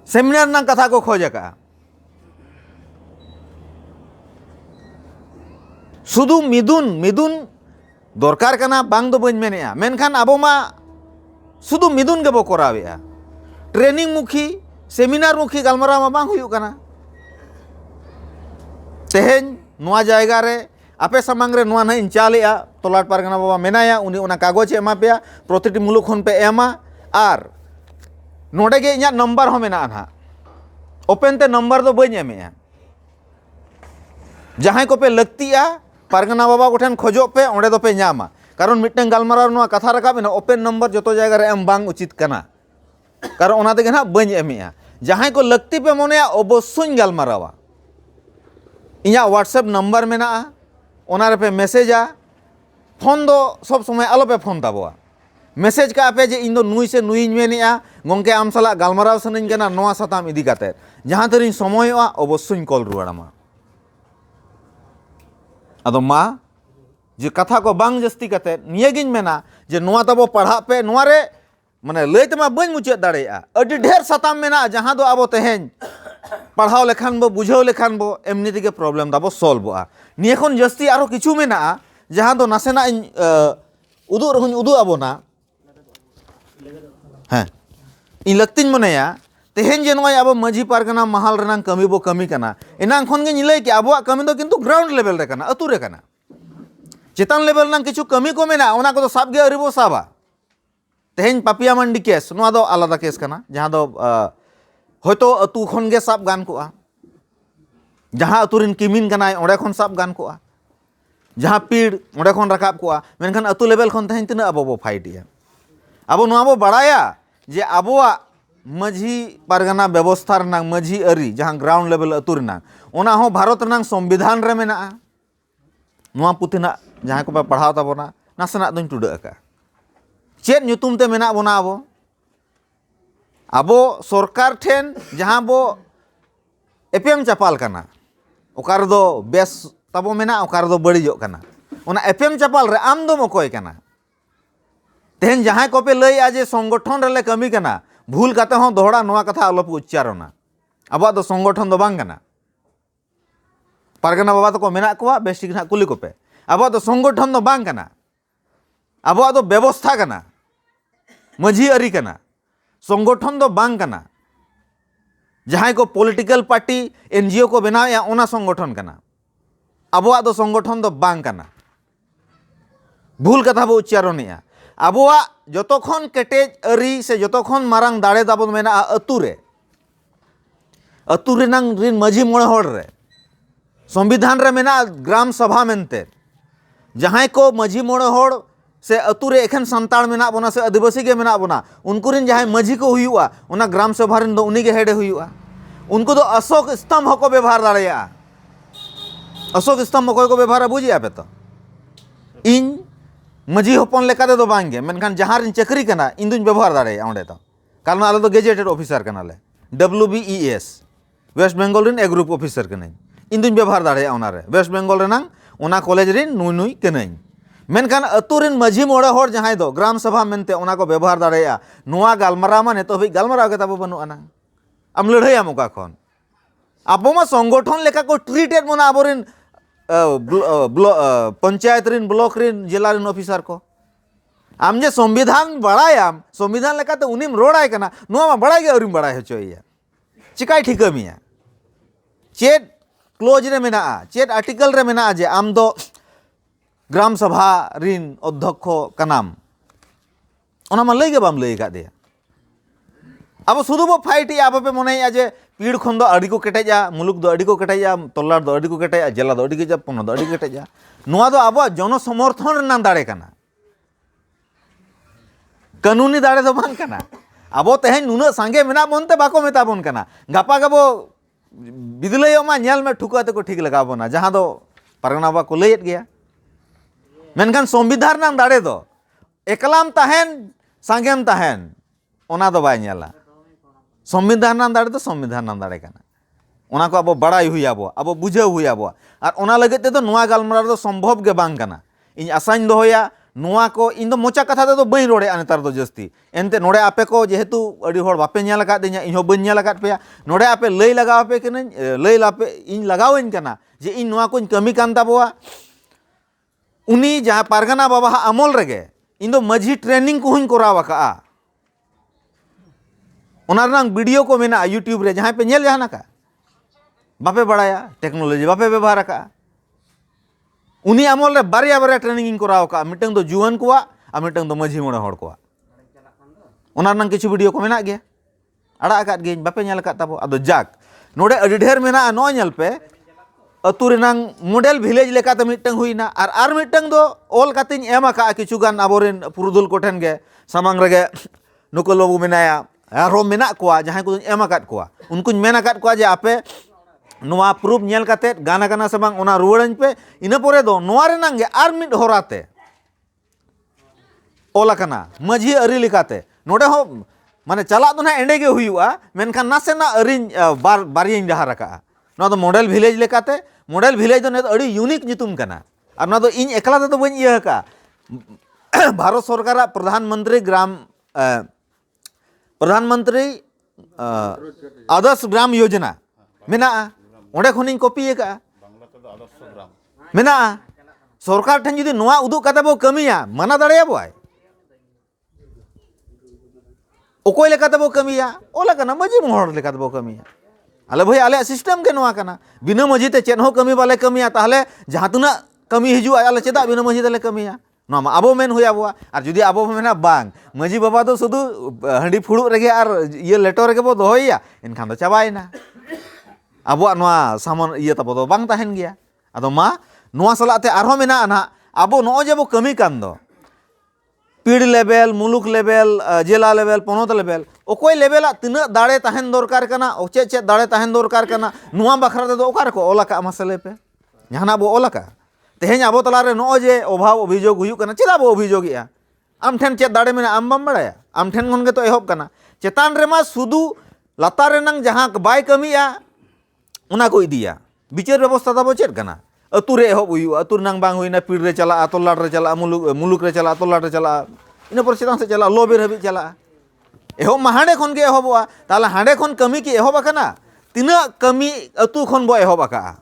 ᱥᱮᱢᱤᱱᱟᱨ ᱨᱮᱱᱟᱜ ᱠᱟᱛᱷᱟ ᱠᱚ ᱠᱷᱚᱡᱽ ᱟᱠᱟᱜᱼᱟ ᱥᱩᱫᱩ ᱢᱤᱫᱩᱱ ᱢᱤᱫᱩᱱ ᱫᱚᱨᱠᱟᱨ ᱠᱟᱱᱟ ᱵᱟᱝ ᱫᱚ ᱵᱟᱹᱧ ᱢᱮᱱᱮᱜᱼᱟ ᱢᱮᱱᱠᱷᱟᱱ ᱟᱵᱚ ᱢᱟ ᱥᱩᱫᱩ ᱢᱤᱫᱩᱱ ᱜᱮᱵᱚ ᱠᱚᱨᱟᱣᱮᱜᱼᱟ ᱴᱨᱮᱱᱤᱝ ᱢᱩᱠᱷᱤ ᱥᱮᱢᱤᱱᱟᱨ ᱢᱩᱠᱷᱤ ᱜᱟᱞᱢᱟᱨᱟᱣ ᱢᱟ ᱵᱟᱝ ᱦᱩᱭᱩᱜ ᱠᱟᱱᱟ ᱛᱮᱦᱮᱧ ᱱᱚᱣᱟ ᱡᱟᱭᱜᱟ ᱨᱮ ᱟᱯᱮ ᱥᱟᱢᱟᱝ ᱨᱮ ᱱᱚᱣᱟ ᱱᱟᱦᱟᱜ ᱤᱧ ᱪᱟᱞ ᱮᱜᱼᱟ ᱛᱚᱞᱟᱴ ᱯᱟᱨᱜᱟᱱᱟ ᱵᱟᱵᱟ ᱢᱮᱱᱟᱭᱟ ᱩᱱᱤ ᱚᱱᱟ ᱠᱟᱜᱚᱡᱽ ᱮ ᱮᱢᱟ ᱯᱮᱭᱟ ᱯᱨᱚᱛᱤᱴᱤ ᱢᱩᱞᱩᱠ ᱠᱷᱚᱱ ᱯᱮ ᱮᱢᱟ ᱟᱨ ᱱᱚᱰᱮ ᱜᱮ ᱤᱧᱟᱹᱜ ᱱᱟᱢᱵᱟᱨ ᱦᱚᱸ ᱢᱮᱱᱟᱜᱼᱟ ᱱᱟᱦᱟᱜ ᱳᱯᱮᱱ ᱛᱮ ᱱᱟᱢᱵᱟᱨ ᱫᱚ ᱵᱟᱹᱧ ᱮᱢᱮᱜᱼᱟ ᱡᱟᱦᱟᱸᱭ ᱠᱚᱯᱮ ᱞᱟᱹᱠᱛᱤᱜᱼᱟ ᱯᱟᱨᱜᱟᱱᱟ ᱵᱟᱵᱟ ᱠᱚᱴᱷᱮᱱ ᱠᱷᱚᱡᱚᱜ ᱯᱮ ᱚᱸᱰᱮ ᱫᱚᱯᱮ ᱧᱟᱢᱟ ᱠᱟᱨᱚᱱ ᱢᱤᱫᱴᱟᱝ ᱜᱟᱞᱢᱟᱨᱟᱣ ᱱᱚᱣᱟ ᱠᱟᱛᱷᱟ ᱨᱟᱠᱟᱵ ᱮᱱᱟ ᱳᱯᱮᱱ ᱱᱟᱢᱵᱟᱨ ᱡᱚᱛᱚ ᱡᱟᱭᱜᱟ ᱨᱮ ᱮᱢ ᱵᱟᱝ ᱩᱪᱤᱛ ᱠᱟᱱᱟ ᱠᱟᱨᱚᱱ ᱚᱱᱟ ᱛᱮᱜᱮ ᱱᱟᱦᱟᱜ ᱵᱟᱹᱧ ᱮᱢᱮᱜᱼᱟ ᱡᱟᱦᱟᱸᱭ ᱠᱚ ᱞᱟᱹᱠᱛᱤ ᱯᱮ ᱢᱚᱱᱮᱭᱟ ᱚᱵᱚᱥᱥᱳᱧ ᱜᱟᱞᱢᱟᱨᱟᱣᱟ ᱤᱧᱟᱹᱜ ᱦᱳᱣᱟᱴᱥᱮᱯ ᱱᱟᱢᱵᱟᱨ ᱢᱮᱱᱟᱜᱼᱟ ᱚᱱᱟ ᱨᱮᱯᱮ ᱢᱮᱥᱮᱡᱟ ᱯᱷᱳᱱ ᱫᱚ ᱥᱚᱵ ᱥᱚᱢᱚᱭ ᱟᱞᱚᱯᱮ ᱯᱷᱳᱱ ᱛᱟᱵᱚᱣᱟ ᱢᱮᱥᱮᱡᱽ ᱠᱟᱜᱼᱟ ᱯᱮ ᱡᱮ ᱤᱧ ᱫᱚ ᱱᱩᱭ ᱥᱮ ᱱᱩᱭᱤᱧ ᱢᱮᱱᱮᱜᱼᱟ ᱜᱚᱢᱠᱮ ᱟᱢ ᱥᱟᱞᱟᱜ ᱜᱟᱞᱢᱟᱨᱟᱣ ᱥᱟᱱᱟᱧ ᱠᱟᱱᱟ ᱱᱚᱣᱟ ᱥᱟᱛᱟᱢ ᱤᱫᱤ ᱠᱟᱛᱮ ᱡᱟᱦᱟᱸ ᱛᱤᱨᱤᱧ ᱥᱚᱢᱚᱭᱚᱜᱼᱟ ᱚᱵᱚᱥᱥᱳᱧ ᱠᱚᱞ ᱨᱩᱣᱟᱹᱲᱟᱢᱟ ᱟᱫᱚ ᱢᱟ ᱡᱮ ᱠᱟᱛᱷᱟ ᱠᱚ ᱵᱟᱝ ᱡᱟᱹᱥᱛᱤ ᱠᱟᱛᱮ ᱱᱤᱭᱟᱹᱜᱤᱧ ᱢᱮᱱᱟ ᱡᱮ ᱱᱚᱣᱟ ᱛᱟᱵᱚ ᱯᱟᱲᱦᱟᱜ ᱯᱮ ᱱᱚᱣᱟᱨᱮ ᱢᱟᱱᱮ ᱞᱟᱹᱭ ᱛᱮᱢᱟ ᱵᱟᱹᱧ ᱢᱩᱪᱟᱹᱫ ᱫᱟᱲᱮᱭᱟᱜᱼᱟ ᱟᱹᱰᱤ ᱰᱷᱮᱨ ᱥᱟᱛᱟᱢ ᱢᱮᱱᱟᱜᱼᱟ ᱡᱟᱦᱟᱸ ᱫᱚ ᱟᱵᱚ ᱛᱮᱦᱮᱧ ᱯᱟᱲᱦᱟᱣ ᱞᱮᱠᱷᱟᱱ ᱵᱚ ᱵᱩᱡᱷᱟᱹᱣ ᱞᱮᱠᱷᱟᱱ ᱵᱚ ᱮᱢᱱᱤ ᱛᱮᱜᱮ ᱯᱨᱚᱵᱞᱮᱢ ᱫᱟᱵᱚ ᱥᱚᱞᱵᱷᱚᱜᱼᱟ ᱱᱤᱭᱟᱹ ᱠᱷᱚᱱ ᱡᱟᱹᱥᱛᱤ ᱟᱨᱦᱚᱸ ᱠᱤᱪᱷᱩ ᱢᱮᱱᱟᱜᱼᱟ ᱡᱟᱦᱟᱸ ᱫᱚ ᱱᱟᱥᱮᱱᱟᱜ ᱤᱧ ᱩᱫᱩᱜ ᱨᱮᱦᱚᱸᱧ ᱩᱫᱩᱜ ᱟᱵᱚᱱᱟ ᱦᱮᱸ ᱤᱧ ᱞᱟᱹᱠᱛᱤᱧ ᱢᱚᱱᱮᱭᱟ ᱛᱮᱦᱮᱧ ᱡᱮ ᱱᱚᱜᱼᱚᱭ ᱟᱵᱚ ᱢᱟᱹᱡᱷᱤ ᱯᱟᱨᱜᱟᱱᱟ ᱢᱟᱦᱟᱞ ᱨᱮᱱᱟᱝ ᱠᱟᱹᱢᱤ ᱵᱚ ᱠᱟᱹᱢᱤ ᱠᱟᱱᱟ ᱮᱱᱟᱝ ᱠᱷᱚᱱ ᱜᱤᱧ ᱞᱟᱹᱭ ᱠᱮᱜᱼᱟ ᱟᱵᱚᱣᱟᱜ ᱠᱟᱹᱢᱤ ᱫᱚ ᱠᱤᱱᱛᱩ ᱜᱨᱟᱣᱩᱱᱰ ᱞᱮᱵᱮᱞ ᱨᱮ ᱠᱟᱱᱟ ᱟᱹᱛᱩ ᱨᱮ ᱠᱟᱱᱟ ᱪᱮᱛᱟᱱ ᱞᱮᱵᱮᱞ ᱨᱮᱱᱟᱝ ᱠᱤᱪᱷᱩ ᱠᱟᱹᱢᱤ ᱠᱚ ᱢᱮᱱᱟᱜᱼᱟ ᱚᱱᱟ ᱠᱚᱫᱚ ᱥᱟᱵ ᱜᱮ ᱟᱹᱣᱨᱤ ᱵᱚ ᱥᱟᱵᱟ ᱛᱮᱦᱮᱧ ᱯᱟᱯᱤᱭᱟ ᱢᱟᱱᱰᱤ ᱠᱮᱥ ᱱᱚᱣᱟ ᱫᱚ ᱟᱞᱟᱫᱟ ᱠᱮᱥ ᱠᱟᱱᱟ ᱡᱟᱦᱟᱸ ᱫᱚ ᱦᱚᱭᱛᱳ ᱟᱹᱛᱩ ᱠᱷᱚᱱ ᱜᱮ ᱥᱟᱵ ᱜᱟᱱ ᱠᱚᱜᱼᱟ ᱡᱟᱦᱟᱸ ᱟᱹᱛᱩ ᱨᱮᱱ ᱠᱤᱢᱤᱱ ᱠᱟᱱᱟᱭ ᱚᱸᱰᱮ ᱠᱷᱚᱱ ᱥᱟᱵ ᱜᱟᱱ ᱠᱚᱜᱼᱟ ᱡᱟᱦᱟᱸ ᱯᱤᱲ ᱚᱸᱰᱮ ᱠᱷᱚᱱ ᱨᱟᱠᱟᱵ ᱠᱚᱜᱼᱟ ᱢᱮᱱᱠᱷᱟᱱ ᱟᱹᱛᱩ ᱞᱮᱵᱮᱞ ᱠᱷᱚᱱ ᱛᱮᱦᱮᱧ ᱛᱤᱱᱟᱹᱜ ᱟᱵᱚ ᱵᱚ ᱯᱷᱟᱭᱤᱴ ᱮᱜᱼᱟ ᱟᱵᱚ ᱱᱚᱣᱟ ᱵᱚ ᱵᱟᱲᱟᱭᱟ ᱡᱮ ᱟᱵᱚᱣᱟᱜ ᱢᱟᱹᱡᱷᱤ ᱯᱟᱨᱜᱟᱱᱟ ᱵᱮᱵᱚᱥᱛᱷᱟ ᱨᱮᱱᱟᱜ ᱢᱟᱹᱡᱷᱤ ᱟᱹᱨᱤ ᱡᱟᱦᱟᱸ ᱜᱨᱟᱣᱩᱱᱰ ᱞᱮᱵᱮᱞ ᱟᱹᱛᱩ ᱨᱮᱱᱟᱜ ᱚᱱᱟ ᱦᱚᱸ ᱵᱷᱟᱨᱚᱛ ᱨᱮᱱᱟᱜ ᱥᱚᱝᱵᱤᱫᱷᱟᱱ ᱨᱮ ᱢᱮᱱᱟᱜᱼᱟ ᱱᱚᱣᱟ ᱯᱩᱛᱷᱤ ᱨᱮᱱᱟᱜ ᱡᱟᱦᱟᱸᱭ ᱠᱚᱯᱮ ᱯᱟᱲᱦᱟᱣ ᱛᱟᱵᱚᱱᱟ ᱱᱟᱥᱮᱱᱟᱜ ᱫᱚᱧ ᱴᱩᱰᱟᱹᱜ ᱟᱠᱟᱫᱼᱟ ᱪᱮᱫ ᱧᱩᱛᱩᱢ ᱛᱮ ᱢᱮᱱᱟᱜ ᱵᱚᱱᱟ ᱟᱵᱚ ᱟᱵᱚ ᱥᱚᱨᱠᱟᱨ ᱴᱷᱮᱱ ᱡᱟᱦᱟᱸ ᱵᱚ ᱮᱯᱮᱢ ᱪᱟᱯᱟᱞ ᱠᱟᱱᱟ ᱚᱠᱟ ᱨᱮᱫᱚ ᱵᱮᱥ ᱛᱟᱵᱚ ᱢᱮᱱᱟᱜᱼᱟ ᱚᱠᱟ ᱨᱮᱫᱚ ᱵᱟᱹᱲᱤᱡᱚᱜ ᱠᱟᱱᱟ ᱚᱱᱟ ᱮᱯᱮᱢ ᱪᱟᱯᱟᱞ ᱨᱮ ᱟᱢ ᱫᱚᱢ ᱚᱠᱚᱭ ᱠᱟᱱᱟ ᱛᱮᱦᱮᱧ ᱡᱟᱦᱟᱸᱭ ᱠᱚᱯᱮ ᱞᱟᱹᱭᱮᱜᱼᱟ ᱡᱮ ᱥᱚᱝᱜᱚᱴᱷᱚᱱ ᱨᱮᱞᱮ ᱠᱟᱹᱢᱤ ᱠᱟᱱᱟ ᱵᱷᱩᱞ ᱠᱟᱛᱮ ᱦᱚᱸ ᱫᱚᱦᱲᱟ ᱱᱚᱣᱟ ᱠᱟᱛᱷᱟ ᱟᱞᱚᱯᱮ ᱩᱪᱪᱟᱨᱚᱱᱟ ᱟᱵᱚᱣᱟᱜ ᱫᱚ ᱥᱚᱝᱜᱚᱴᱷᱚᱱ ᱫᱚ ᱵᱟᱝ ᱠᱟᱱᱟ ᱯᱟᱨᱜᱟᱱᱟ ᱵᱟᱵᱟ ᱛᱟᱠᱚ ᱢᱮᱱᱟᱜ ᱠᱚᱣᱟ ᱵᱮᱥ ᱴᱷᱤᱠ ᱱᱟᱦᱟᱜ ᱠᱩᱞᱤ ᱠᱚᱯᱮ ᱟᱵᱚᱣᱟᱜ ᱫᱚ ᱥᱚᱝᱜᱚᱴᱷᱚᱱ ᱫᱚ ᱵᱟᱝ ᱠᱟᱱᱟ ᱟᱵᱚᱣᱟᱜ ᱫᱚ ᱵᱮᱵᱚᱥᱛᱷᱟ ᱠᱟᱱᱟ ᱢᱟᱹᱡᱷᱤ ᱟᱹᱨᱤ ᱠᱟᱱᱟ ᱥᱚᱝᱜᱚᱴᱷᱚᱱ ᱫᱚ ᱵᱟᱝ ᱠᱟᱱᱟ ᱡᱟᱦᱟᱸᱭ ᱠᱚ ᱯᱚᱞᱤᱴᱤᱠᱟᱞ ᱯᱟᱨᱴᱤ ᱮᱱᱡᱤᱭᱳ ᱠᱚ ᱵᱮᱱᱟᱣᱮᱜᱼᱟ ᱚᱱᱟ ᱥᱚᱝᱜᱚᱴᱷᱚᱱ ᱠᱟᱱᱟ ᱟᱵᱚᱣᱟᱜ ᱫᱚ ᱥᱚᱝᱜᱚᱴᱷᱚᱱ ᱫᱚ ᱵᱟᱝ ᱠᱟᱱᱟ ᱵᱷᱩᱞ ᱠᱟᱛᱷᱟ ᱵᱚ ᱩᱪᱪᱟᱨᱚᱱᱮᱜᱼᱟ ᱟᱵᱚᱣᱟᱜ ᱡᱚᱛᱚ ᱠᱷᱚᱱ ᱠᱮᱴᱮᱡ ᱟᱹᱨᱤ ᱥᱮ ᱡᱚᱛᱚ ᱠᱷᱚᱱ ᱢᱟᱨᱟᱝ ᱫᱟᱲᱮ ᱛᱟᱵᱚᱱ ᱢᱮᱱᱟᱜᱼᱟ ᱟᱹᱛᱩ ᱨᱮ ᱟᱹᱛᱩ ᱨᱮᱱᱟᱝ ᱨᱤᱱ ᱢᱟᱹᱡᱷᱤ ᱢᱚᱬᱮ ᱦᱚᱲ ᱨᱮ ᱥᱚᱝᱵᱤᱫᱷᱟᱱ ᱨᱮ ᱢᱮᱱᱟᱜᱼᱟ ᱜᱨᱟᱢ ᱥᱚᱵᱷᱟ ᱢᱮᱱᱛᱮ ᱡᱟᱦᱟᱸᱭ ᱠᱚ ᱢᱟᱹᱡᱷᱤ ᱢᱚᱬᱮ ᱦᱚᱲ ᱥᱮ ᱟᱹᱛᱩ ᱨᱮ ᱮᱠᱷᱮᱱ ᱥᱟᱱᱛᱟᱲ ᱢᱮᱱᱟᱜ ᱵᱚᱱᱟ ᱥᱮ ᱟᱹᱫᱤᱵᱟᱹᱥᱤ ᱜᱮ ᱢᱮᱱᱟᱜ ᱵᱚᱱᱟ ᱩᱱᱠᱩ ᱨᱤᱱ ᱡᱟᱦᱟᱸᱭ ᱢᱟᱹᱡᱷᱤ ᱠᱚ ᱦᱩᱭᱩᱜᱼᱟ ᱚᱱᱟ ᱜᱨᱟᱢ ᱥᱚᱵᱷᱟ ᱨᱮᱱ ᱫᱚ ᱩᱱᱤ ᱜᱮ ᱦᱮᱰᱮ ᱦᱩᱭᱩᱜᱼᱟ ᱩᱱᱠᱩ ᱫᱚ ᱚᱥᱳᱠ ᱥᱛᱚᱢᱵᱷᱚ ᱠᱚ ᱵᱮᱵᱚᱦᱟᱨ ᱫᱟᱲᱮᱭᱟᱜᱼᱟ ᱚᱥᱳᱠ ᱥᱛᱚᱢᱵᱷ ᱚᱠᱚᱭ ᱠᱚ ᱵᱮᱵᱷᱟᱨᱟ ᱵᱩᱡᱮᱜᱼᱟ ᱯᱮ ᱛᱚ ᱤᱧ ᱢᱟᱺᱡᱷᱤ ᱦᱚᱯᱚᱱ ᱞᱮᱠᱟ ᱛᱮᱫᱚ ᱵᱟᱝᱜᱮ ᱢᱮᱱᱠᱷᱟᱱ ᱡᱟᱦᱟᱸ ᱨᱤᱧ ᱪᱟᱹᱠᱨᱤ ᱠᱟᱱᱟ ᱤᱧ ᱫᱩᱧ ᱵᱮᱵᱚᱦᱟᱨ ᱫᱟᱲᱮᱭᱟᱜᱼᱟ ᱚᱸᱰᱮ ᱫᱚ ᱠᱟᱨᱚᱱ ᱟᱞᱮ ᱫᱚ ᱜᱮᱡᱮᱴᱮᱰ ᱚᱯᱷᱤᱥᱟᱨ ᱠᱟᱱᱟᱞᱮ W B E S west Bengal ᱨᱮᱱ ᱮ ᱜᱨᱩᱯ ᱚᱯᱷᱤᱥᱟᱨ ᱠᱟᱹᱱᱟᱹᱧ ᱤᱧ ᱫᱩᱧ ᱵᱮᱵᱚᱦᱟᱨ ᱫᱟᱲᱮᱭᱟᱜᱼᱟ ᱚᱱᱟᱨᱮ ᱣᱮᱥᱴ ᱵᱮᱝᱜᱚᱞ ᱨᱮᱱᱟᱝ ᱚᱱᱟ ᱠᱚᱞᱮᱡᱽ ᱨᱮᱱ ᱱᱩᱭ ᱱᱩᱭ ᱠᱟᱹᱱᱟᱹᱧ ᱢᱮᱱᱠᱷᱟᱱ ᱟᱹᱛᱩ ᱨᱮᱱ ᱢᱟᱺᱡᱷᱤ ᱢᱚᱬᱮ ᱦᱚᱲ ᱡᱟᱦᱟᱸᱭ ᱫᱚ ᱜᱨᱟᱢ ᱥᱚᱵᱷᱟ ᱢᱮᱱᱛᱮ ᱚᱱᱟ ᱠᱚ ᱵᱮᱵᱚᱦᱟᱨ ᱫᱟᱲᱮᱭᱟᱜᱼᱟ ᱱᱚᱣᱟ ᱜᱟᱞᱢᱟᱨᱟᱣ ᱢᱟ ᱱᱤᱛᱚᱜ ᱦᱟᱹᱵᱤᱡ ᱜᱟᱞᱢᱟᱨᱟᱣ ᱜᱮ ᱛᱟᱵᱚ ᱵᱟᱹᱱᱩᱜ ᱟᱱᱟᱝ ᱟᱢ ᱞᱟᱹᱲᱦᱟᱹᱭᱟᱢ ᱚᱠᱟ ᱠᱷᱚᱱ ᱟᱵᱚ ᱢᱟ ᱥᱚᱝᱜᱚᱴᱷᱚᱱ ᱞᱮᱠᱟ ᱠᱚ ᱴᱨᱤᱴ ᱮᱫ ᱵᱚᱱᱟ ᱟᱵᱚᱨᱮᱱ ᱯᱚᱧᱪᱟᱭᱮᱛ ᱨᱮᱱ ᱵᱞᱚᱠ ᱨᱮᱱ ᱡᱮᱞᱟ ᱨᱮᱱ ᱚᱯᱷᱤᱥᱟᱨ ᱠᱚ ᱟᱢ ᱡᱮ ᱥᱚᱝᱵᱤᱫᱷᱟᱱ ᱵᱟᱲᱟᱭᱟᱢ ᱥᱚᱝᱵᱤᱫᱷᱟᱱ ᱞᱮᱠᱟᱛᱮ ᱩᱱᱤᱢ ᱨᱚᱲᱟᱭ ᱠᱟᱱᱟ ᱱᱚᱣᱟ ᱢᱟ ᱵᱟᱲᱟᱭ ᱜᱮ ᱟᱹᱣᱨᱤᱢ ᱵᱟᱲᱟᱭ ᱦᱚᱪᱚᱭᱮᱭᱟ ᱪᱤᱠᱟᱭ ᱴᱷᱤᱠᱟᱹ ᱢᱮᱭᱟ ᱪᱮᱫ ᱠᱞᱳᱡᱽ ᱨᱮ ᱢᱮᱱᱟᱜᱼᱟ ᱪᱮᱫ ᱟᱨᱴᱤᱠᱮᱞ ᱨᱮ ᱢᱮᱱᱟᱜᱼᱟ ᱡᱮ ᱟᱢ ᱫᱚ ᱜᱨᱟᱢ ᱥᱚᱵᱷᱟ ᱨᱤᱱ ᱚᱫᱽᱫᱷᱚᱠᱠᱷᱚ ᱠᱟᱱᱟᱢ ᱚᱱᱟ ᱢᱟ ᱞᱟᱹᱭ ᱜᱮ ᱵᱟᱢ ᱞᱟᱹᱭ ᱟᱠᱟᱫ ᱫᱮᱭᱟ ᱟᱵᱚ ᱥᱩᱫᱷᱩ ᱵᱚ ᱯᱷᱟᱭᱤᱴ ᱮᱜᱼᱟ ᱟᱵᱚ ᱯᱮ ᱢᱚᱱᱮᱭᱮᱜᱼᱟ ᱡᱮ ᱯᱤᱲ ᱠᱷᱚᱱ ᱫᱚ ᱟᱹᱰᱤ ᱠᱚ ᱠᱮᱴᱮᱡᱟ ᱢᱩᱞᱩᱠ ᱫᱚ ᱟᱹᱰᱤ ᱠᱚ ᱠᱮᱴᱮᱡᱟ ᱛᱚᱞᱞᱟᱴ ᱫᱚ ᱟᱹᱰᱤ ᱠᱚ ᱠᱮᱴᱮᱡᱟ ᱡᱮᱞᱟ ᱫᱚ ᱟᱹᱰᱤ ᱠᱮᱴᱮᱡᱟ ᱯᱚᱱᱚᱛ ᱫᱚ ᱟᱹᱰᱤ ᱠᱮᱴᱮᱡᱟ ᱱᱚᱣᱟ ᱫᱚ ᱟᱵᱚᱣᱟᱜ ᱡᱚᱱᱚ ᱥᱚᱢᱚᱨᱛᱷᱚᱱ ᱨᱮᱱᱟᱜ ᱫᱟᱲᱮ ᱠᱟᱱᱟ ᱠᱟᱹᱱᱩᱱᱤ ᱫᱟᱲᱮ ᱫᱚ ᱵᱟᱝ ᱠᱟᱱᱟ ᱟᱵᱚ ᱛᱮᱦᱮᱧ ᱱᱩᱱᱟᱹᱜ ᱥᱟᱸᱜᱮ ᱢᱮᱱᱟᱜ ᱵᱚᱱ ᱛᱮ ᱵᱟᱠᱚ ᱢᱮᱛᱟ ᱵᱚᱱ ᱠᱟᱱᱟ ᱜᱟᱯᱟ ᱜᱮᱵᱚ ᱵᱤᱫᱞᱟᱹᱭᱚᱜ ᱢᱟ ᱧᱮᱞ ᱢᱮ ᱴᱷᱩᱠᱟᱹ ᱛᱮᱠᱚ ᱴᱷᱤᱠ ᱞᱟᱜᱟᱣ ᱵᱚᱱᱟ ᱡᱟᱦᱟᱸ ᱫᱚ ᱯᱟᱨᱜᱟᱱᱟ ᱵᱟᱵᱟ ᱠᱚ ᱞᱟᱹᱭᱮᱫ ᱜᱮᱭᱟ ᱢᱮᱱᱠᱷᱟᱱ ᱥᱚᱝᱵᱤᱫᱷᱟᱱ ᱨᱮᱱᱟᱜ ᱫᱟᱲᱮ ᱫᱚ ᱮᱠᱞᱟᱢ ᱛᱟᱦᱮᱱ ᱥᱟᱸᱜᱮᱢ ᱛᱟᱦᱮᱱ ᱚᱱᱟ ᱫᱚ ᱵᱟᱭ ᱧᱮᱞᱟ ᱥᱚᱝᱵᱤᱫᱷᱟᱱ ᱨᱮᱱᱟᱜ ᱫᱟᱲᱮ ᱫᱚ ᱥᱚᱝᱵᱤᱫᱷᱟᱱ ᱨᱮᱱᱟᱜ ᱫᱟᱲᱮ ᱠᱟᱱᱟ ᱚᱱᱟ ᱠᱚ ᱟᱵᱚ ᱵᱟᱲᱟᱭ ᱦᱩᱭ ᱟᱵᱚ ᱟᱵᱚ ᱵᱩᱡᱷᱟᱹᱣ ᱦᱩᱭ ᱟᱵᱚ ᱟᱨ ᱚᱱᱟ ᱞᱟᱹᱜᱤᱫ ᱛᱮᱫᱚ ᱱᱚᱣᱟ ᱜᱟᱞᱢᱟᱨᱟᱣ ᱫᱚ ᱥᱚᱢᱵᱷᱚᱵ ᱜᱮ ᱵᱟᱝ ᱠᱟᱱᱟ ᱤᱧ ᱟᱥᱟᱧ ᱫᱚᱦᱚᱭᱟ ᱱᱚᱣᱟ ᱠᱚ ᱤᱧ ᱫᱚ ᱢᱚᱪᱟ ᱠᱟᱛᱷᱟ ᱛᱮᱫᱚ ᱵᱟᱹᱧ ᱨᱚᱲᱮᱜᱼᱟ ᱱᱮᱛᱟᱨ ᱫᱚ ᱡᱟᱹᱥᱛᱤ ᱮᱱᱛᱮ ᱱᱚᱰᱮ ᱟᱯᱮ ᱠᱚ ᱡᱮᱦᱮᱛᱩ ᱟᱹᱰᱤ ᱦᱚᱲ ᱵᱟᱯᱮ ᱧᱮᱞ ᱟᱠᱟᱫᱤᱧᱟ ᱤᱧ ᱦᱚᱸ ᱵᱟᱹᱧ ᱧᱮᱞ ᱟᱠᱟᱫ ᱯᱮᱭᱟ ᱱᱚᱰᱮ ᱟᱯᱮ ᱞᱟᱹᱭ ᱞᱟᱜᱟᱣ ᱟᱯᱮ ᱠᱟᱹᱱᱟᱹᱧ ᱞᱟᱹᱭ ᱞᱟᱯᱮ ᱤᱧ ᱞᱟᱜᱟᱣᱟᱹᱧ ᱠᱟᱱᱟ ᱡᱮ ᱤᱧ ᱱᱚᱣᱟ ᱠᱚᱧ ᱠᱟᱹᱢᱤ ᱠᱟᱱ ᱛᱟᱵᱚᱣᱟ ᱩᱱᱤ ᱡᱟᱦᱟᱸ ᱯᱟᱨᱜᱟᱱᱟ ᱵᱟᱵᱟᱦᱟᱜ ᱟᱢᱚᱞ ᱨᱮᱜᱮ ᱤᱧ ᱫᱚ ᱢᱟᱹᱡᱷᱤ ᱴᱨᱮᱱᱤᱝ ᱠᱚᱦᱚᱧ ᱠᱚᱨᱟᱣ ᱟᱠᱟᱜᱼᱟ ᱚᱱᱟ ᱨᱮᱱᱟᱜ ᱵᱷᱤᱰᱤᱭᱳ ᱠᱚ ᱢᱮᱱᱟᱜᱼᱟ ᱭᱩᱴᱭᱩᱵᱽ ᱨᱮ ᱡᱟᱦᱟᱸᱭ ᱯᱮ ᱧᱮᱞ ᱡᱟᱦᱟᱱ ᱟᱠᱟᱜᱼᱟ ᱵᱟᱯᱮ ᱵᱟᱲᱟᱭᱟ ᱴᱮᱠᱱᱳᱞᱚᱡᱤ ᱵᱟᱯᱮ ᱵᱮᱵᱚᱦᱟᱨ ᱟᱠᱟᱜᱼᱟ ᱩᱱᱤ ᱟᱢᱚᱞ ᱨᱮ ᱵᱟᱨᱭᱟ ᱵᱟᱨᱭᱟ ᱴᱨᱮᱱᱤᱝ ᱤᱧ ᱠᱚᱨᱟᱣ ᱟᱠᱟᱜᱼᱟ ᱢᱤᱫᱴᱟᱝ ᱫᱚ ᱡᱩᱣᱟᱹᱱ ᱠᱚᱣᱟᱜ ᱟᱨ ᱢᱤᱫᱴᱟᱝ ᱫᱚ ᱢᱟᱹᱡᱷᱤ ᱢᱚᱬᱮ ᱦᱚᱲ ᱠᱚᱣᱟᱜ ᱚᱱᱟ ᱨᱮᱱᱟᱜ ᱠᱤᱪᱷᱩ ᱵᱷᱤᱰᱤᱭᱳ ᱠᱚ ᱢᱮᱱᱟᱜ ᱜᱮᱭᱟ ᱟᱲᱟᱜ ᱟᱠᱟᱫ ᱜᱤᱭᱟᱹᱧ ᱵᱟᱯᱮ ᱧᱮᱞ ᱟᱠᱟᱫ ᱛᱟᱵᱚ ᱟᱫᱚ ᱡᱟᱠ ᱱᱚᱰᱮ ᱟᱹᱰᱤ ᱰᱷᱮᱨ ᱢᱮᱱᱟᱜᱼᱟ ᱱᱚᱜᱼᱚᱭ ᱧᱮᱞ ᱯᱮ ᱟᱹᱛᱩ ᱨᱮᱱᱟᱝ ᱢᱚᱰᱮᱞ ᱵᱷᱤᱞᱮᱡᱽ ᱞᱮᱠᱟᱛᱮ ᱢᱤᱫᱴᱟᱝ ᱦᱩᱭᱱᱟ ᱟᱨ ᱟᱨ ᱢᱤᱫᱴᱟᱝ ᱫᱚ ᱚᱞ ᱠᱟᱛᱮᱧ ᱮᱢ ᱟᱠᱟᱫᱼᱟ ᱠᱤᱪᱷᱩ ᱜᱟᱱ ᱟᱵᱚᱨᱮᱱ ᱯᱩᱨᱩᱫᱷᱩᱞ ᱠᱚᱴᱷᱮᱱ ᱜᱮ ᱥᱟᱢᱟᱝ ᱨᱮᱜᱮ ᱱᱩᱠᱩᱞ ᱵᱟᱹᱵᱩ ᱢᱮᱱᱟᱭᱟ ᱟᱨᱦᱚᱸ ᱢᱮᱱᱟᱜ ᱠᱚᱣᱟ ᱡᱟᱦᱟᱸᱭ ᱠᱚᱫᱚᱧ ᱮᱢ ᱟᱠᱟᱫ ᱠᱚᱣᱟ ᱩᱱᱠᱩᱧ ᱢᱮᱱ ᱟᱠᱟᱫ ᱠᱚᱣᱟ ᱡᱮ ᱟᱯᱮ ᱱᱚᱣᱟ ᱯᱨᱩᱯᱷ ᱧᱮᱞ ᱠᱟᱛᱮᱫ ᱜᱟᱱ ᱟᱠᱟᱱᱟ ᱥᱮ ᱵᱟᱝ ᱚᱱᱟ ᱨᱩᱣᱟᱹᱲᱟᱹᱧ ᱯᱮ ᱤᱱᱟᱹ ᱯᱚᱨᱮ ᱫᱚ ᱱᱚᱣᱟ ᱨᱮᱱᱟᱝ ᱜᱮ ᱟᱨ ᱢᱤᱫ ᱦᱚᱨᱟᱛᱮ ᱚᱞ ᱟᱠᱟᱱᱟ ᱢᱟᱹᱡᱷᱤ ᱟᱹᱨᱤ ᱞᱮᱠᱟᱛᱮ ᱱᱚᱰᱮ ᱦᱚᱸ ᱢᱟᱱᱮ ᱪᱟᱞᱟᱜ ᱫᱚ ᱱᱟᱦᱟᱜ ᱮᱸᱰᱮ ᱜᱮ ᱦᱩᱭᱩᱜᱼᱟ ᱢᱮᱱᱠᱷᱟᱱ ᱱᱟᱥᱮᱱᱟᱜ ᱟᱹᱨᱤᱧ ᱵᱟᱨ ᱵᱟᱨᱭᱟᱹᱧ ᱰᱟᱦᱟᱨ ᱟᱠᱟᱜᱼᱟ ᱱᱚᱣᱟ ᱫᱚ ᱢᱚᱰᱮᱞ ᱵᱷᱤᱞᱮᱡᱽ ᱞᱮᱠᱟᱛᱮ ᱢᱚᱰᱮᱞ ᱵᱷᱤᱞᱮᱡᱽ ᱫᱚ ᱱᱤᱛ ᱟᱹᱰᱤ ᱭᱩᱱᱤᱠ ᱧᱩᱛᱩᱢ ᱠᱟᱱᱟ ᱟᱨ ᱱᱚᱣᱟ ᱫᱚ ᱤᱧ ᱮᱠᱞᱟ ᱛᱮᱫᱚ ᱵᱟᱹᱧ ᱤᱭᱟᱹ ᱟᱠᱟᱜᱼᱟ ᱵᱷᱟᱨᱚᱛ ᱥᱚᱨᱠᱟᱨᱟᱜ ᱯᱨᱚᱫᱷᱟᱱ ᱢᱚᱱᱛᱨᱤ ᱜᱨᱟᱢ ᱯᱨᱚᱫᱷᱟᱱᱢᱚᱱᱛᱨᱤ ᱟᱫᱚᱨᱥ ᱜᱨᱟᱢ ᱭᱳᱡᱚᱱᱟ ᱢᱮᱱᱟᱜᱼᱟ ᱚᱸᱰᱮ ᱠᱷᱚᱱᱤᱧ ᱠᱚᱯᱤ ᱟᱠᱟᱫᱼᱟ ᱢᱮᱱᱟᱜᱼᱟ ᱥᱚᱨᱠᱟᱨ ᱴᱷᱮᱱ ᱡᱩᱫᱤ ᱱᱚᱣᱟ ᱩᱫᱩᱜ ᱠᱟᱛᱮ ᱵᱚᱱ ᱠᱟᱹᱢᱤᱭᱟ ᱢᱟᱱᱟ ᱫᱟᱲᱮᱭᱟᱵᱚᱣᱟᱭ ᱚᱠᱚᱭ ᱞᱮᱠᱟ ᱛᱮᱵᱚ ᱠᱟᱹᱢᱤᱭᱟ ᱚᱞ ᱟᱠᱟᱱᱟ ᱢᱟᱹᱡᱷᱤ ᱢᱚᱦᱚᱲ ᱞᱮᱠᱟ ᱛᱮᱵᱚ ᱠᱟᱹᱢᱤᱭᱟ ᱟᱞᱮ ᱵᱷᱟᱹᱭ ᱟᱞᱮᱭᱟᱜ ᱥᱤᱥᱴᱮᱢ ᱜᱮ ᱱᱚᱣᱟ ᱠᱟᱱᱟ ᱵᱤᱱᱟᱹ ᱢᱟᱹᱡᱷᱤ ᱛᱮ ᱪᱮᱫ ᱦᱚᱸ ᱠᱟᱹᱢᱤ ᱵᱟᱞᱮ ᱠᱟᱹᱢᱤᱭᱟ ᱛᱟᱦᱚᱞᱮ ᱡᱟᱦᱟᱸ ᱛᱤᱱᱟᱹᱜ ᱠᱟᱹᱢᱤ ᱦᱤᱡᱩᱜᱼᱟ ᱟᱞᱮ ᱪᱮᱫᱟᱜ ᱵᱤᱱᱟᱹ ᱢᱟᱹᱡᱷᱤ ᱛᱮᱞᱮ ᱠᱟᱹᱢᱤᱭᱟ ᱱᱚᱣᱟ ᱢᱟ ᱟᱵᱚ ᱢᱮᱱ ᱦᱩᱭ ᱟᱵᱚᱣᱟ ᱟᱨ ᱡᱩᱫᱤ ᱟᱵᱚ ᱵᱚ ᱢᱮᱱᱟ ᱵᱟᱝ ᱢᱟᱺᱡᱷᱤ ᱵᱟᱵᱟ ᱫᱚ ᱥᱩᱫᱷᱩ ᱦᱟᱺᱰᱤ ᱯᱷᱩᱲᱩᱜ ᱨᱮᱜᱮ ᱟᱨ ᱤᱭᱟᱹ ᱞᱮᱴᱚ ᱨᱮᱜᱮ ᱵᱚ ᱫᱚᱦᱚᱭᱮᱭᱟ ᱮᱱᱠᱷᱟᱱ ᱫᱚ ᱪᱟᱵᱟᱭᱮᱱᱟ ᱟᱵᱚᱣᱟᱜ ᱱᱚᱣᱟ ᱥᱟᱢᱚᱱ ᱤᱭᱟᱹ ᱛᱟᱵᱚ ᱫᱚ ᱵᱟᱝ ᱛᱟᱦᱮᱱ ᱜᱮᱭᱟ ᱟᱫᱚ ᱢᱟ ᱱᱚᱣᱟ ᱥᱟᱞᱟᱜ ᱛᱮ ᱟᱨᱦᱚᱸ ᱢᱮᱱᱟᱜᱼᱟ ᱱᱟᱦᱟᱜ ᱟᱵᱚ ᱱᱚᱜᱼᱚᱭ ᱡᱮ ᱵᱚ ᱠᱟᱹᱢᱤ ᱠᱟᱱ ᱫᱚ ᱯᱤᱲ ᱞᱮᱵᱮᱞ ᱢᱩᱞᱩᱠ ᱞᱮᱵᱮᱞ ᱡᱮᱞᱟ ᱞᱮᱵᱮᱞ ᱯᱚᱱᱚᱛ ᱞᱮᱵᱮᱞ ᱚᱠᱚᱭ ᱞᱮᱵᱮᱞᱟᱜ ᱛᱤᱱᱟᱹᱜ ᱫᱟᱲᱮ ᱛᱟᱦᱮᱱ ᱫᱚᱨᱠᱟᱨ ᱠᱟᱱᱟ ᱪᱮᱫ ᱪᱮᱫ ᱫᱟᱲᱮ ᱛᱟᱦᱮᱱ ᱫᱚᱨᱠᱟᱨ ᱠᱟᱱᱟ ᱱᱚᱣᱟ ᱵᱟᱠᱷᱨᱟ ᱛᱮᱫᱚ ᱚᱠᱟ ᱨᱮᱠᱚ ᱚᱞ ᱟᱠᱟᱫᱼᱟ ᱢᱟᱥᱮ ᱞᱟᱹᱭ ᱯᱮ ᱡᱟᱦᱟᱱᱟᱜ ᱵᱚ ᱚᱞ ᱟᱠᱟᱫᱼᱟ ᱛᱮᱦᱮᱧ ᱟᱵᱚ ᱛᱟᱞᱟᱨᱮ ᱱᱚᱜᱼᱚᱭ ᱡᱮ ᱚᱵᱷᱟᱵᱽ ᱚᱵᱷᱤᱡᱳᱜᱽ ᱦᱩᱭᱩᱜ ᱠᱟᱱᱟ ᱪᱮᱫᱟᱜ ᱵᱚ ᱚᱵᱷᱤᱡᱳᱜᱮᱜᱼᱟ ᱟᱢ ᱴᱷᱮᱱ ᱪᱮᱫ ᱫᱟᱲᱮ ᱢᱮᱱᱟᱜᱼᱟ ᱟᱢ ᱵᱟᱢ ᱵᱟᱲᱟᱭᱟ ᱟᱢ ᱴᱷᱮᱱ ᱠᱷᱚᱱ ᱜᱮᱛᱚ ᱮᱦᱚᱵ ᱠᱟᱱᱟ ᱪᱮᱛᱟᱱ ᱨᱮᱢᱟ ᱥᱩᱫᱩ ᱞᱟᱛᱟᱨ ᱨᱮᱱᱟᱝ ᱡᱟᱦᱟᱸ ᱵᱟᱭ ᱠᱟᱹᱢᱤᱭᱟ ᱚᱱᱟ ᱠᱚ ᱤᱫᱤᱭᱟ ᱵᱤᱪᱟᱹᱨ ᱵᱮᱵᱚᱥᱛᱷᱟ ᱛᱟᱵᱚ ᱪᱮᱫ ᱠᱟᱱᱟ ᱟᱹᱛᱩ ᱨᱮ ᱮᱦᱚᱵ ᱦᱩᱭᱩᱜᱼᱟ ᱟᱹᱛᱩ ᱨᱮᱱᱟᱝ ᱵᱟᱝ ᱦᱩᱭᱱᱟ ᱯᱤᱲ ᱨᱮ ᱪᱟᱞᱟᱜᱼᱟ ᱛᱚᱞᱞᱟᱴ ᱨᱮ ᱪᱟᱞᱟᱜᱼᱟ ᱢᱩᱞᱩᱠ ᱢᱩᱞᱩᱠ ᱨᱮ ᱪᱟᱞᱟᱜᱼᱟ ᱛᱚᱞᱞᱟᱴ ᱨᱮ ᱪᱟᱞᱟᱜᱼᱟ ᱤᱱᱟᱹ ᱯᱚᱨᱮ ᱪᱮᱛᱟᱱ ᱥᱮᱫ ᱪᱟᱞᱟᱜᱼᱟ ᱞᱚ ᱵᱤᱨ ᱦᱟᱹᱵᱤᱡ ᱪᱟᱞᱟᱜᱼᱟ ᱮᱦᱚᱵ ᱢᱟ ᱦᱟᱸᱰᱮ ᱠᱷᱚᱱ ᱜᱮ ᱮᱦᱚᱵᱚᱜᱼᱟ ᱛᱟᱦᱚᱞᱮ ᱦᱟᱸᱰᱮ ᱠᱷᱚᱱ ᱠᱟᱹᱢᱤ ᱠᱤ ᱮᱦᱚᱵ ᱟᱠᱟᱱᱟ ᱛᱤᱱᱟᱹᱜ ᱠᱟᱹᱢᱤ ᱟᱹᱛᱩ ᱠᱷᱚᱱ ᱵᱚ ᱮᱦᱚᱵ ᱟᱠᱟᱜᱼᱟ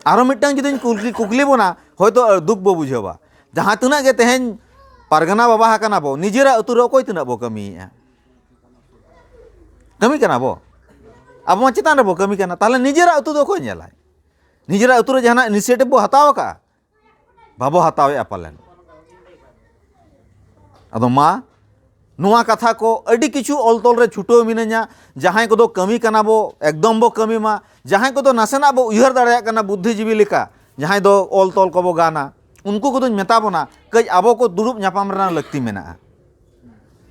ᱟᱨᱚ ᱢᱤᱫᱴᱟᱝ ᱡᱩᱫᱤᱧ ᱠᱩᱠᱞᱤ ᱠᱩᱠᱞᱤ ᱵᱚᱱᱟ ᱦᱚᱭᱛᱳ ᱫᱩᱠ ᱵᱚ ᱵᱩᱡᱷᱟᱹᱣᱟ ᱡᱟᱦᱟᱸ ᱛᱤᱱᱟᱹᱜ ᱜᱮ ᱛᱮᱦᱮᱧ ᱯᱟᱨᱜᱟᱱᱟ ᱵᱟᱵᱟ ᱟᱠᱟᱱᱟ ᱵᱚ ᱱᱤᱡᱮᱨᱟᱜ ᱟᱹᱛᱩ ᱨᱮ ᱚᱠᱚᱭ ᱛᱤᱱᱟᱹᱜ ᱵᱚ ᱠᱟᱹᱢᱤᱭᱮᱫᱼᱟ ᱠᱟᱹᱢᱤ ᱠᱟᱱᱟ ᱵᱚ ᱟᱵᱚ ᱢᱟ ᱪᱮᱛᱟᱱ ᱨᱮᱵᱚ ᱠᱟᱹᱢᱤ ᱠᱟᱱᱟ ᱛᱟᱦᱚᱞᱮ ᱱᱤᱡᱮᱨᱟᱜ ᱟᱹᱛᱩ ᱫᱚ ᱚᱠᱚᱭ ᱧᱮᱞᱟᱭ ᱱᱤᱡᱮᱨᱟᱜ ᱟᱹᱛᱩ ᱨᱮ ᱡᱟᱦᱟᱱᱟᱜ ᱤᱱᱤᱥᱤᱭᱮᱴᱤᱵᱷ ᱵᱚ ᱦᱟᱛᱟᱣ ᱟᱠᱟᱜᱼᱟ ᱵᱟᱵᱚ ᱦᱟᱛᱟᱣᱮᱜᱼᱟ ᱯᱟᱞᱮᱱ ᱟᱫᱚ ᱢᱟ ᱱᱚᱣᱟ ᱠᱟᱛᱷᱟ ᱠᱚ ᱟᱹᱰᱤ ᱠᱤᱪᱷᱩ ᱚᱞ ᱛᱚᱞ ᱨᱮ ᱪᱷᱩᱴᱟᱹᱣ ᱢᱤᱱᱟᱹᱧᱟ ᱡᱟᱦᱟᱸᱭ ᱠᱚᱫᱚ ᱠᱟᱹᱢᱤ ᱠᱟᱱᱟ ᱵᱚ ᱮᱠᱫᱚᱢ ᱵᱚ ᱠᱟᱹᱢᱤ ᱢᱟ ᱡᱟᱦᱟᱸᱭ ᱠᱚᱫᱚ ᱱᱟᱥᱮᱱᱟᱜ ᱵᱚ ᱩᱭᱦᱟᱹᱨ ᱫᱟᱲᱮᱭᱟᱜ ᱠᱟᱱᱟ ᱵᱩᱫᱽᱫᱷᱤᱡᱤᱵᱤ ᱞᱮᱠᱟ ᱡᱟᱦᱟᱸᱭ ᱫᱚ ᱚᱞ ᱛᱚᱞ ᱠᱚᱵᱚ ᱜᱟᱱᱟ ᱩᱱᱠᱩ ᱠᱚᱫᱚᱧ ᱢᱮᱛᱟ ᱵᱚᱱᱟ ᱠᱟᱹᱡ ᱟᱵᱚ ᱠᱚ ᱫᱩᱲᱩᱵ ᱧᱟᱯᱟᱢ ᱨᱮᱱᱟᱜ ᱞᱟᱹᱠᱛᱤ ᱢᱮᱱᱟᱜᱼᱟ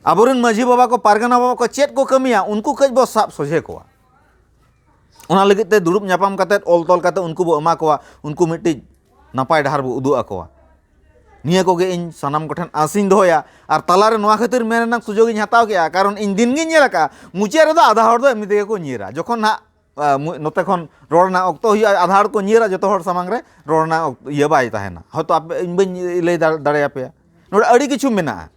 ᱟᱵᱚᱨᱮᱱ ᱢᱟᱺᱡᱷᱤ ᱵᱟᱵᱟ ᱠᱚ ᱯᱟᱨᱜᱟᱱᱟ ᱵᱟᱵᱟ ᱠᱚ ᱪᱮᱫ ᱠᱚ ᱠᱟᱹᱢᱤᱭᱟ ᱩᱱᱠᱩ ᱠᱟᱹᱡ ᱵᱚ ᱥᱟᱵ ᱥᱚᱡᱷᱮ ᱠᱚᱣᱟ ᱚᱱᱟ ᱞᱟᱹᱜᱤᱫ ᱛᱮ ᱫᱩᱲᱩᱵ ᱧᱟᱯᱟᱢ ᱠᱟᱛᱮ ᱚᱞ ᱛᱚᱞ ᱠᱟᱛᱮ ᱩᱱᱠᱩ ᱵᱚᱱ ᱮᱢᱟ ᱠᱚᱣᱟ ᱩᱱᱠᱩ ᱢᱤᱫᱴᱤᱡ ᱱᱟᱯᱟᱭ ᱰᱟᱦᱟᱨ ᱵᱚᱱ ᱩᱫᱩᱜ ᱟᱠᱚᱣᱟ ᱱᱤᱭᱟᱹ ᱠᱚᱜᱮ ᱤᱧ ᱥᱟᱱᱟᱢ ᱠᱚᱴᱷᱮᱱ ᱟᱥᱤᱧ ᱫᱚᱦᱚᱭᱟ ᱟᱨ ᱛᱟᱞᱟᱨᱮ ᱱᱚᱣᱟ ᱠᱷᱟᱹᱛᱤᱨ ᱢᱮᱱ ᱨᱮᱱᱟᱜ ᱥᱩᱡᱳᱜᱽ ᱤᱧ ᱦᱟᱛᱟᱣ ᱠᱮᱜᱼᱟ ᱠᱟᱨᱚᱱ ᱤᱧ ᱫᱤᱱ ᱜᱮᱧ ᱧᱮᱞ ᱠᱟᱜᱼᱟ ᱢᱩᱪᱟᱹᱫ ᱨᱮᱫᱚ ᱟᱫᱷᱟ ᱦᱚᱲ ᱫᱚ ᱮᱢᱱᱤ ᱛᱮᱜᱮ ᱠᱚ ᱧᱤᱨᱟ ᱡᱚᱠᱷᱚᱱ ᱦᱟᱸᱜ ᱱᱚᱛᱮ ᱠᱷᱚᱱ ᱨᱚᱲ ᱨᱮᱱᱟᱜ ᱚᱠᱛᱚ ᱦᱩᱭᱩᱜᱼᱟ ᱟᱫᱷᱟ ᱦᱚᱲ ᱠᱚ ᱧᱤᱨᱟ ᱡᱚᱛᱚ ᱦᱚᱲ ᱥᱟᱢᱟᱝ ᱨᱮ ᱨᱚᱲ ᱨᱮᱱᱟᱜ ᱤᱭᱟᱹ ᱵᱟᱭ ᱛᱟᱦᱮᱱᱟ ᱦᱚᱭᱛᱳ ᱟᱯᱮ ᱤᱧ ᱵᱟᱹᱧ ᱞᱟᱹᱭ ᱫᱟᱲᱮᱭᱟᱯᱮᱭᱟ ᱱᱚᱰᱮ ᱟᱹᱰᱤ ᱠᱤᱪᱷᱩ ᱢᱮᱱᱟᱜᱼᱟ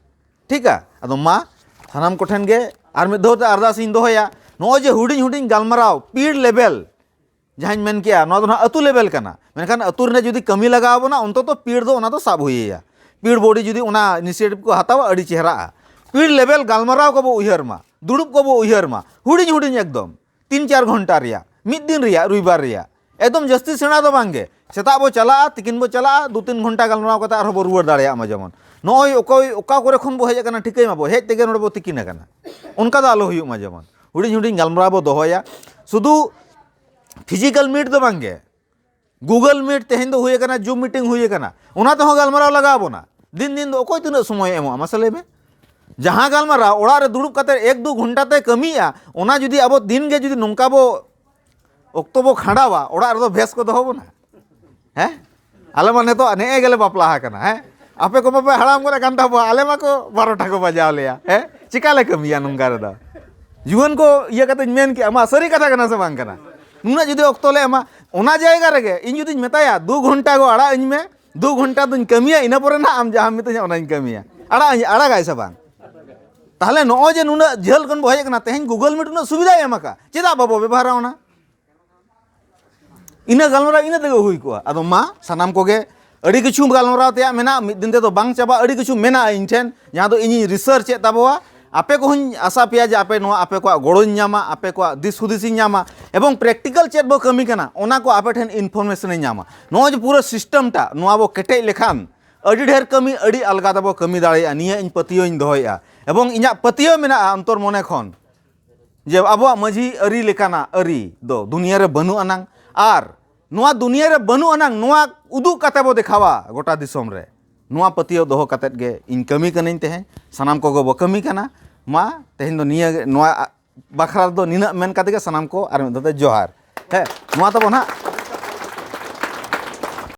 ᱴᱷᱤᱠᱟ ᱟᱫᱚ ᱢᱟ ᱥᱟᱱᱟᱢ ᱠᱚᱴᱷᱮᱱ ᱜᱮ ᱟᱨ ᱢᱤᱫ ᱫᱷᱟᱣ ᱛᱮ ᱟᱨᱫᱟᱥ ᱤᱧ ᱫᱚᱦᱚᱭᱟ ᱱᱚᱜᱼᱚᱭ ᱡᱮ ᱦᱩᱰᱤᱧ ᱦᱩᱰᱤᱧ ᱜᱟᱞᱢᱟᱨᱟᱣ ᱯᱤᱲ ᱞᱮᱵᱮᱞ ᱡᱟᱦᱟᱸᱧ ᱢᱮᱱ ᱠᱮᱜᱼᱟ ᱱᱚᱣᱟ ᱫᱚ ᱱᱟᱦᱟᱜ ᱟᱹᱛᱩ ᱞᱮᱵᱮᱞ ᱠᱟᱱᱟ ᱢᱮᱱᱠᱷᱟᱱ ᱟᱹᱛᱩ ᱨᱮ ᱡᱩᱫᱤ ᱠᱟᱹᱢᱤ ᱞᱟᱜᱟᱣ ᱵᱚᱱᱟ ᱚᱱᱛᱚᱛᱚ ᱯᱤᱲ ᱫᱚ ᱚᱱᱟ ᱫᱚ ᱥᱟᱵ ᱦᱩᱭᱟᱭᱟ ᱯᱤᱲ ᱵᱚᱰᱤ ᱡᱩᱫᱤ ᱚᱱᱟ ᱤᱱᱤᱥᱤᱭᱮᱴᱤᱵᱷ ᱠᱚ ᱦᱟᱛᱟᱣᱟ ᱟᱹᱰᱤ ᱪᱮᱦᱨᱟᱜᱼᱟ ᱯᱤᱲ ᱞᱮᱵᱮᱞ ᱜᱟᱞᱢᱟᱨᱟᱣ ᱠᱚᱵᱚ ᱩᱭᱦᱟᱹᱨ ᱢᱟ ᱫᱩᱲᱩᱵ ᱠᱚᱵᱚ ᱩᱭᱦᱟᱹᱨ ᱢᱟ ᱦᱩᱰᱤᱧ ᱦᱩᱰᱤᱧ ᱮᱠᱫᱚᱢ ᱛᱤᱱ ᱪᱟᱨ ᱜᱷᱚᱱᱴᱟ ᱨᱮᱭᱟᱜ ᱢᱤᱫ ᱫᱤᱱ ᱨᱮᱭᱟᱜ ᱨᱚᱵᱤᱵᱟᱨ ᱨᱮᱭᱟᱜ ᱮᱠᱫᱚᱢ ᱡᱟᱹᱥᱛᱤ ᱥᱮᱬᱟ ᱫᱚ ᱵᱟᱝᱜᱮ ᱥᱮᱛᱟᱜ ᱵᱚ ᱪᱟᱞᱟᱜᱼᱟ ᱛᱤᱠᱤᱱ ᱵᱚ ᱪᱟᱞᱟᱜᱼᱟ ᱫᱩ ᱛᱤᱱ ᱜᱷᱚᱱᱴᱟ ᱜᱟᱞᱢᱟᱨᱟᱣ ᱠᱟᱛᱮ ᱟᱨᱦᱚᱸ ᱵᱚ ᱨᱩᱣᱟᱹᱲ ᱫᱟᱲᱮᱭᱟᱜ ᱢᱟ ᱡᱮᱢᱚᱱ ᱱᱚᱜᱼᱚᱭ ᱚᱠᱚᱭ ᱚᱠᱟ ᱠᱚᱨᱮ ᱠᱷᱚᱱ ᱵᱚ ᱦᱮᱡ ᱟᱠᱟᱱᱟ ᱴᱷᱤᱠᱟᱹᱭ ᱢᱟᱵᱚ ᱦᱮᱡ ᱛᱮᱜᱮ ᱱᱚᱰᱮ ᱵᱚ ᱛᱤᱠᱤᱱ ᱟᱠᱟᱱᱟ ᱚᱱᱠᱟ ᱫᱚ ᱟᱞᱚ ᱦᱩᱭᱩᱜ ᱢᱟ ᱡᱮᱢᱚᱱ ᱦᱩᱰᱤᱧ ᱦᱩᱰᱤᱧ ᱜᱟᱞᱢᱟᱨᱟᱣ ᱵᱚ ᱫᱚᱦᱚᱭᱟ ᱥᱩᱫᱩ ᱯᱷᱤᱡᱤᱠᱮᱞ ᱢᱤᱴ ᱫᱚ ᱵᱟᱝᱜᱮ ᱜᱩᱜᱚᱞ ᱢᱤᱴ ᱛᱮᱦᱮᱧ ᱫᱚ ᱦᱩᱭ ᱟᱠᱟᱱᱟ ᱡᱩᱢ ᱢᱤᱴᱤᱝ ᱦᱩᱭ ᱟᱠᱟᱱᱟ ᱚᱱᱟ ᱛᱮᱦᱚᱸ ᱜᱟᱞᱢᱟᱨᱟᱣ ᱞᱟᱜᱟᱣ ᱵᱚᱱᱟ ᱫᱤᱱ ᱫᱤᱱ ᱫᱚ ᱚᱠᱚᱭ ᱛᱤᱱᱟᱹᱜ ᱥᱚᱢᱚᱭ ᱮᱢᱚᱜᱼᱟ ᱢᱟᱥᱮ ᱞᱟᱹᱭ ᱢᱮ ᱡᱟᱦᱟᱸ ᱜᱟᱞᱢᱟᱨᱟᱣ ᱚᱲᱟᱜ ᱨᱮ ᱫᱩᱲᱩᱵ ᱠᱟᱛᱮ ᱮᱠ ᱫᱩ ᱜᱷᱚᱱᱴᱟ ᱛᱮ ᱠᱟᱹᱢᱤᱭᱟ ᱚᱱᱟ ᱡᱩᱫᱤ ᱟᱵᱚ ᱫᱤᱱ ᱜᱮ ᱡᱩᱫᱤ ᱱᱚᱝᱠᱟ ᱵᱚ ᱚᱠᱛᱚ ᱵᱚ ᱠᱷᱟᱸᱰᱟᱣᱟ ᱚᱲᱟᱜ ᱨᱮᱫᱚ ᱵᱮᱥ ᱠᱚ ᱫᱚᱦᱚ ᱵᱚᱱᱟ ᱦᱮᱸ ᱟᱞᱮ ᱢᱟ ᱱᱤᱛᱚᱜ ᱱᱮᱜᱼᱮ ᱜᱮᱞᱮ ᱵᱟᱯᱞᱟ ᱟᱠᱟᱱᱟ ᱦᱮᱸ ᱟᱯᱮ ᱠᱚ ᱢᱟᱯᱮ ᱦᱟᱲᱟᱢ ᱜᱚᱫ ᱟᱠᱟᱱ ᱛᱟᱵᱚᱣᱟ ᱟᱞᱮ ᱢᱟᱠᱚ ᱵᱟᱨᱚᱴᱟ ᱠᱚ ᱵᱟᱡᱟᱣ ᱞᱮᱭᱟ ᱦᱮᱸ ᱪᱤᱠᱟ ᱞᱮ ᱠᱟᱹᱢᱤᱭᱟ ᱱᱚᱝᱠᱟ ᱨᱮᱫᱚ ᱡᱩᱣᱟᱹᱱ ᱠᱚ ᱤᱭᱟᱹ ᱠᱟᱛᱮᱧ ᱢᱮᱱ ᱠᱮᱜᱼᱟ ᱢᱟ ᱥᱟᱹᱨᱤ ᱠᱟᱛᱷᱟ ᱠᱟᱱᱟ ᱥᱮ ᱵᱟᱝ ᱠᱟᱱᱟ ᱱᱩᱱᱟᱹᱜ ᱡᱩᱫᱤ ᱚᱠᱛᱚ ᱞᱮ ᱮᱢᱟ ᱚᱱᱟ ᱡᱟᱭᱜᱟ ᱨᱮᱜᱮ ᱤᱧ ᱡᱩᱫᱤᱧ ᱢᱮᱛᱟᱭᱟ ᱫᱩ ᱜᱷᱚᱱᱴᱟ ᱜᱚ ᱟᱲᱟᱜ ᱟᱹᱧ ᱢᱮ ᱫᱩ ᱜᱷᱚᱱᱴᱟ ᱫᱚᱧ ᱠᱟᱹᱢᱤᱭᱟ ᱤᱱᱟᱹ ᱯᱚᱨᱮ ᱱᱟᱜ ᱟᱢ ᱡᱟᱦᱟᱸᱢ ᱢᱤᱛᱟᱹᱧᱟ ᱚᱱᱟᱧ ᱠᱟᱹᱢᱤᱭᱟ ᱟᱲᱟᱜ ᱟᱹᱧ ᱟᱲᱟᱜᱟᱭ ᱥᱮ ᱵᱟᱝ ᱛᱟᱦᱚᱞᱮ ᱱᱚᱜᱼᱚᱭ ᱡᱮ ᱱᱩᱱᱟᱹᱜ ᱡᱷᱟᱹᱞ ᱠᱷᱚᱱ ᱵᱚ ᱦᱮᱡ ᱟᱠᱟᱱᱟ ᱛᱮᱦᱮᱧ ᱜᱩᱜᱚᱞ ᱢᱤᱴ ᱩᱱᱟᱹᱜ ᱥᱩᱵᱤᱫᱷᱟᱭ ᱮᱢ ᱟᱠᱟᱫ ᱪᱮᱫᱟᱜ ᱵᱟᱵᱚ ᱵᱮᱵᱚᱦᱟᱨᱟ ᱚᱱᱟ ᱤᱱᱟᱹ ᱜᱟᱞᱢᱟᱨᱟᱣ ᱤᱱᱟᱹ ᱛᱮᱜᱮ ᱦᱩᱭ ᱠᱚᱜᱼᱟ ᱟᱫᱚ ᱢᱟ ᱥᱟᱱᱟᱢ ᱠᱚᱜᱮ ᱟᱹᱰᱤ ᱠᱤᱪᱷᱩ ᱜᱟᱞᱢᱟᱨᱟᱣ ᱛᱮᱭᱟᱜ ᱢᱮᱱᱟᱜᱼᱟ ᱢᱤᱫ ᱫᱤᱱ ᱛᱮᱫᱚ ᱵᱟᱝ ᱪᱟᱵᱟᱜᱼᱟ ᱟᱹᱰᱤ ᱠᱤᱪᱷᱩ ᱢᱮᱱᱟᱜᱼᱟ ᱤᱧ ᱴᱷᱮᱱ ᱡᱟᱦᱟᱸ ᱫᱚ ᱤᱧᱤᱧ ᱨᱤᱥᱟᱨᱪ ᱮᱫ ᱛᱟᱵᱚᱣᱟ ᱟᱯᱮ ᱠᱚᱦᱚᱧ ᱟᱥᱟ ᱯᱮᱭᱟ ᱡᱮ ᱟᱯᱮ ᱱᱚᱣᱟ ᱟᱯᱮ ᱠᱚᱣᱟᱜ ᱜᱚᱲᱚᱧ ᱧᱟᱢᱟ ᱟᱯᱮ ᱠᱚᱣᱟᱜ ᱫᱤᱥ ᱦᱩᱫᱤᱥ ᱤᱧ ᱧᱟᱢᱟ ᱮᱵᱚᱝ ᱯᱨᱮᱠᱴᱤᱠᱟᱞ ᱪᱮᱫ ᱵᱚ ᱠᱟᱹᱢᱤ ᱠᱟᱱᱟ ᱚᱱᱟ ᱠᱚ ᱟᱯᱮ ᱴᱷᱮᱱ ᱤᱱᱯᱷᱚᱨᱢᱮᱥᱚᱱ ᱤᱧ ᱧᱟᱢᱟ ᱱᱚᱣᱟ ᱡᱮ ᱯᱩᱨᱟᱹ ᱥᱤᱥᱴᱮᱢ ᱴᱟ ᱱᱚᱣᱟ ᱵᱚ ᱠᱮᱴᱮᱡ ᱞᱮᱠᱷᱟᱱ ᱟᱹᱰᱤ ᱰᱷᱮᱨ ᱠᱟᱹᱢᱤ ᱟᱹᱰᱤ ᱟᱞᱜᱟ ᱛᱮᱵᱚ ᱠᱟᱹᱢᱤ ᱫᱟᱲᱮᱭᱟᱜᱼᱟ ᱱᱤᱭᱟᱹ ᱤᱧ ᱯᱟᱹᱛᱭᱟᱹᱣ ᱤᱧ ᱫᱚᱦᱚᱭᱮᱫᱼᱟ ᱮᱵᱚᱝ ᱤᱧᱟᱹᱜ ᱯᱟᱹᱛᱭᱟᱹᱣ ᱢᱮᱱᱟᱜᱼᱟ ᱚᱱᱛᱚᱨ ᱢᱚᱱᱮ ᱠᱷᱚᱱ ᱡᱮ ᱟᱵᱚᱣᱟᱜ ᱢᱟᱹᱡᱷᱤ ᱟᱹᱨᱤ ᱞᱮᱠᱟᱱᱟᱜ ᱟᱹᱨᱤ ᱫᱚ ᱫᱩᱱᱤᱭᱟᱹ ᱨᱮ ᱵᱟᱹᱱᱩᱜ ᱟᱱᱟᱝ ᱟᱨ ᱱᱚᱣᱟ ᱫᱩᱱᱤᱭᱟᱹ ᱨᱮ ᱵᱟᱹᱱᱩᱜ ᱟᱱᱟᱝ ᱱᱚᱣᱟ ᱩᱫᱩᱜ ᱠᱟᱛᱮ ᱵᱚ ᱫᱮᱠᱷᱟᱣᱟ ᱜᱚᱴᱟ ᱫᱤᱥᱚᱢ ᱨᱮ ᱱᱚᱣᱟ ᱯᱟᱹᱛᱭᱟᱹᱣ ᱫᱚᱦᱚ ᱠᱟᱛᱮ ᱜᱮ ᱤᱧ ᱠᱟᱹᱢᱤ ᱠᱟᱹᱱᱟᱹᱧ ᱛᱮᱦᱮᱧ ᱥᱟᱱᱟᱢ ᱠᱚᱜᱮ ᱵᱚ ᱠᱟᱹᱢᱤ ᱠᱟᱱᱟ ᱢᱟ ᱛᱮᱦᱮᱧ ᱫᱚ ᱱᱤᱭᱟᱹ ᱱᱚᱣᱟ ᱵᱟᱠᱷᱨᱟ ᱫᱚ ᱱᱤᱱᱟᱹᱜ ᱢᱮᱱ ᱠᱟᱛᱮ ᱜᱮ ᱥᱟᱱᱟᱢ ᱠᱚ ᱟᱨ ᱢᱤᱫ ᱫᱷᱟᱣ ᱛᱮ ᱡᱚᱦᱟᱨ ᱦᱮᱸ ᱱᱚᱣᱟ ᱛᱟᱵᱚ ᱱᱟᱦᱟᱜ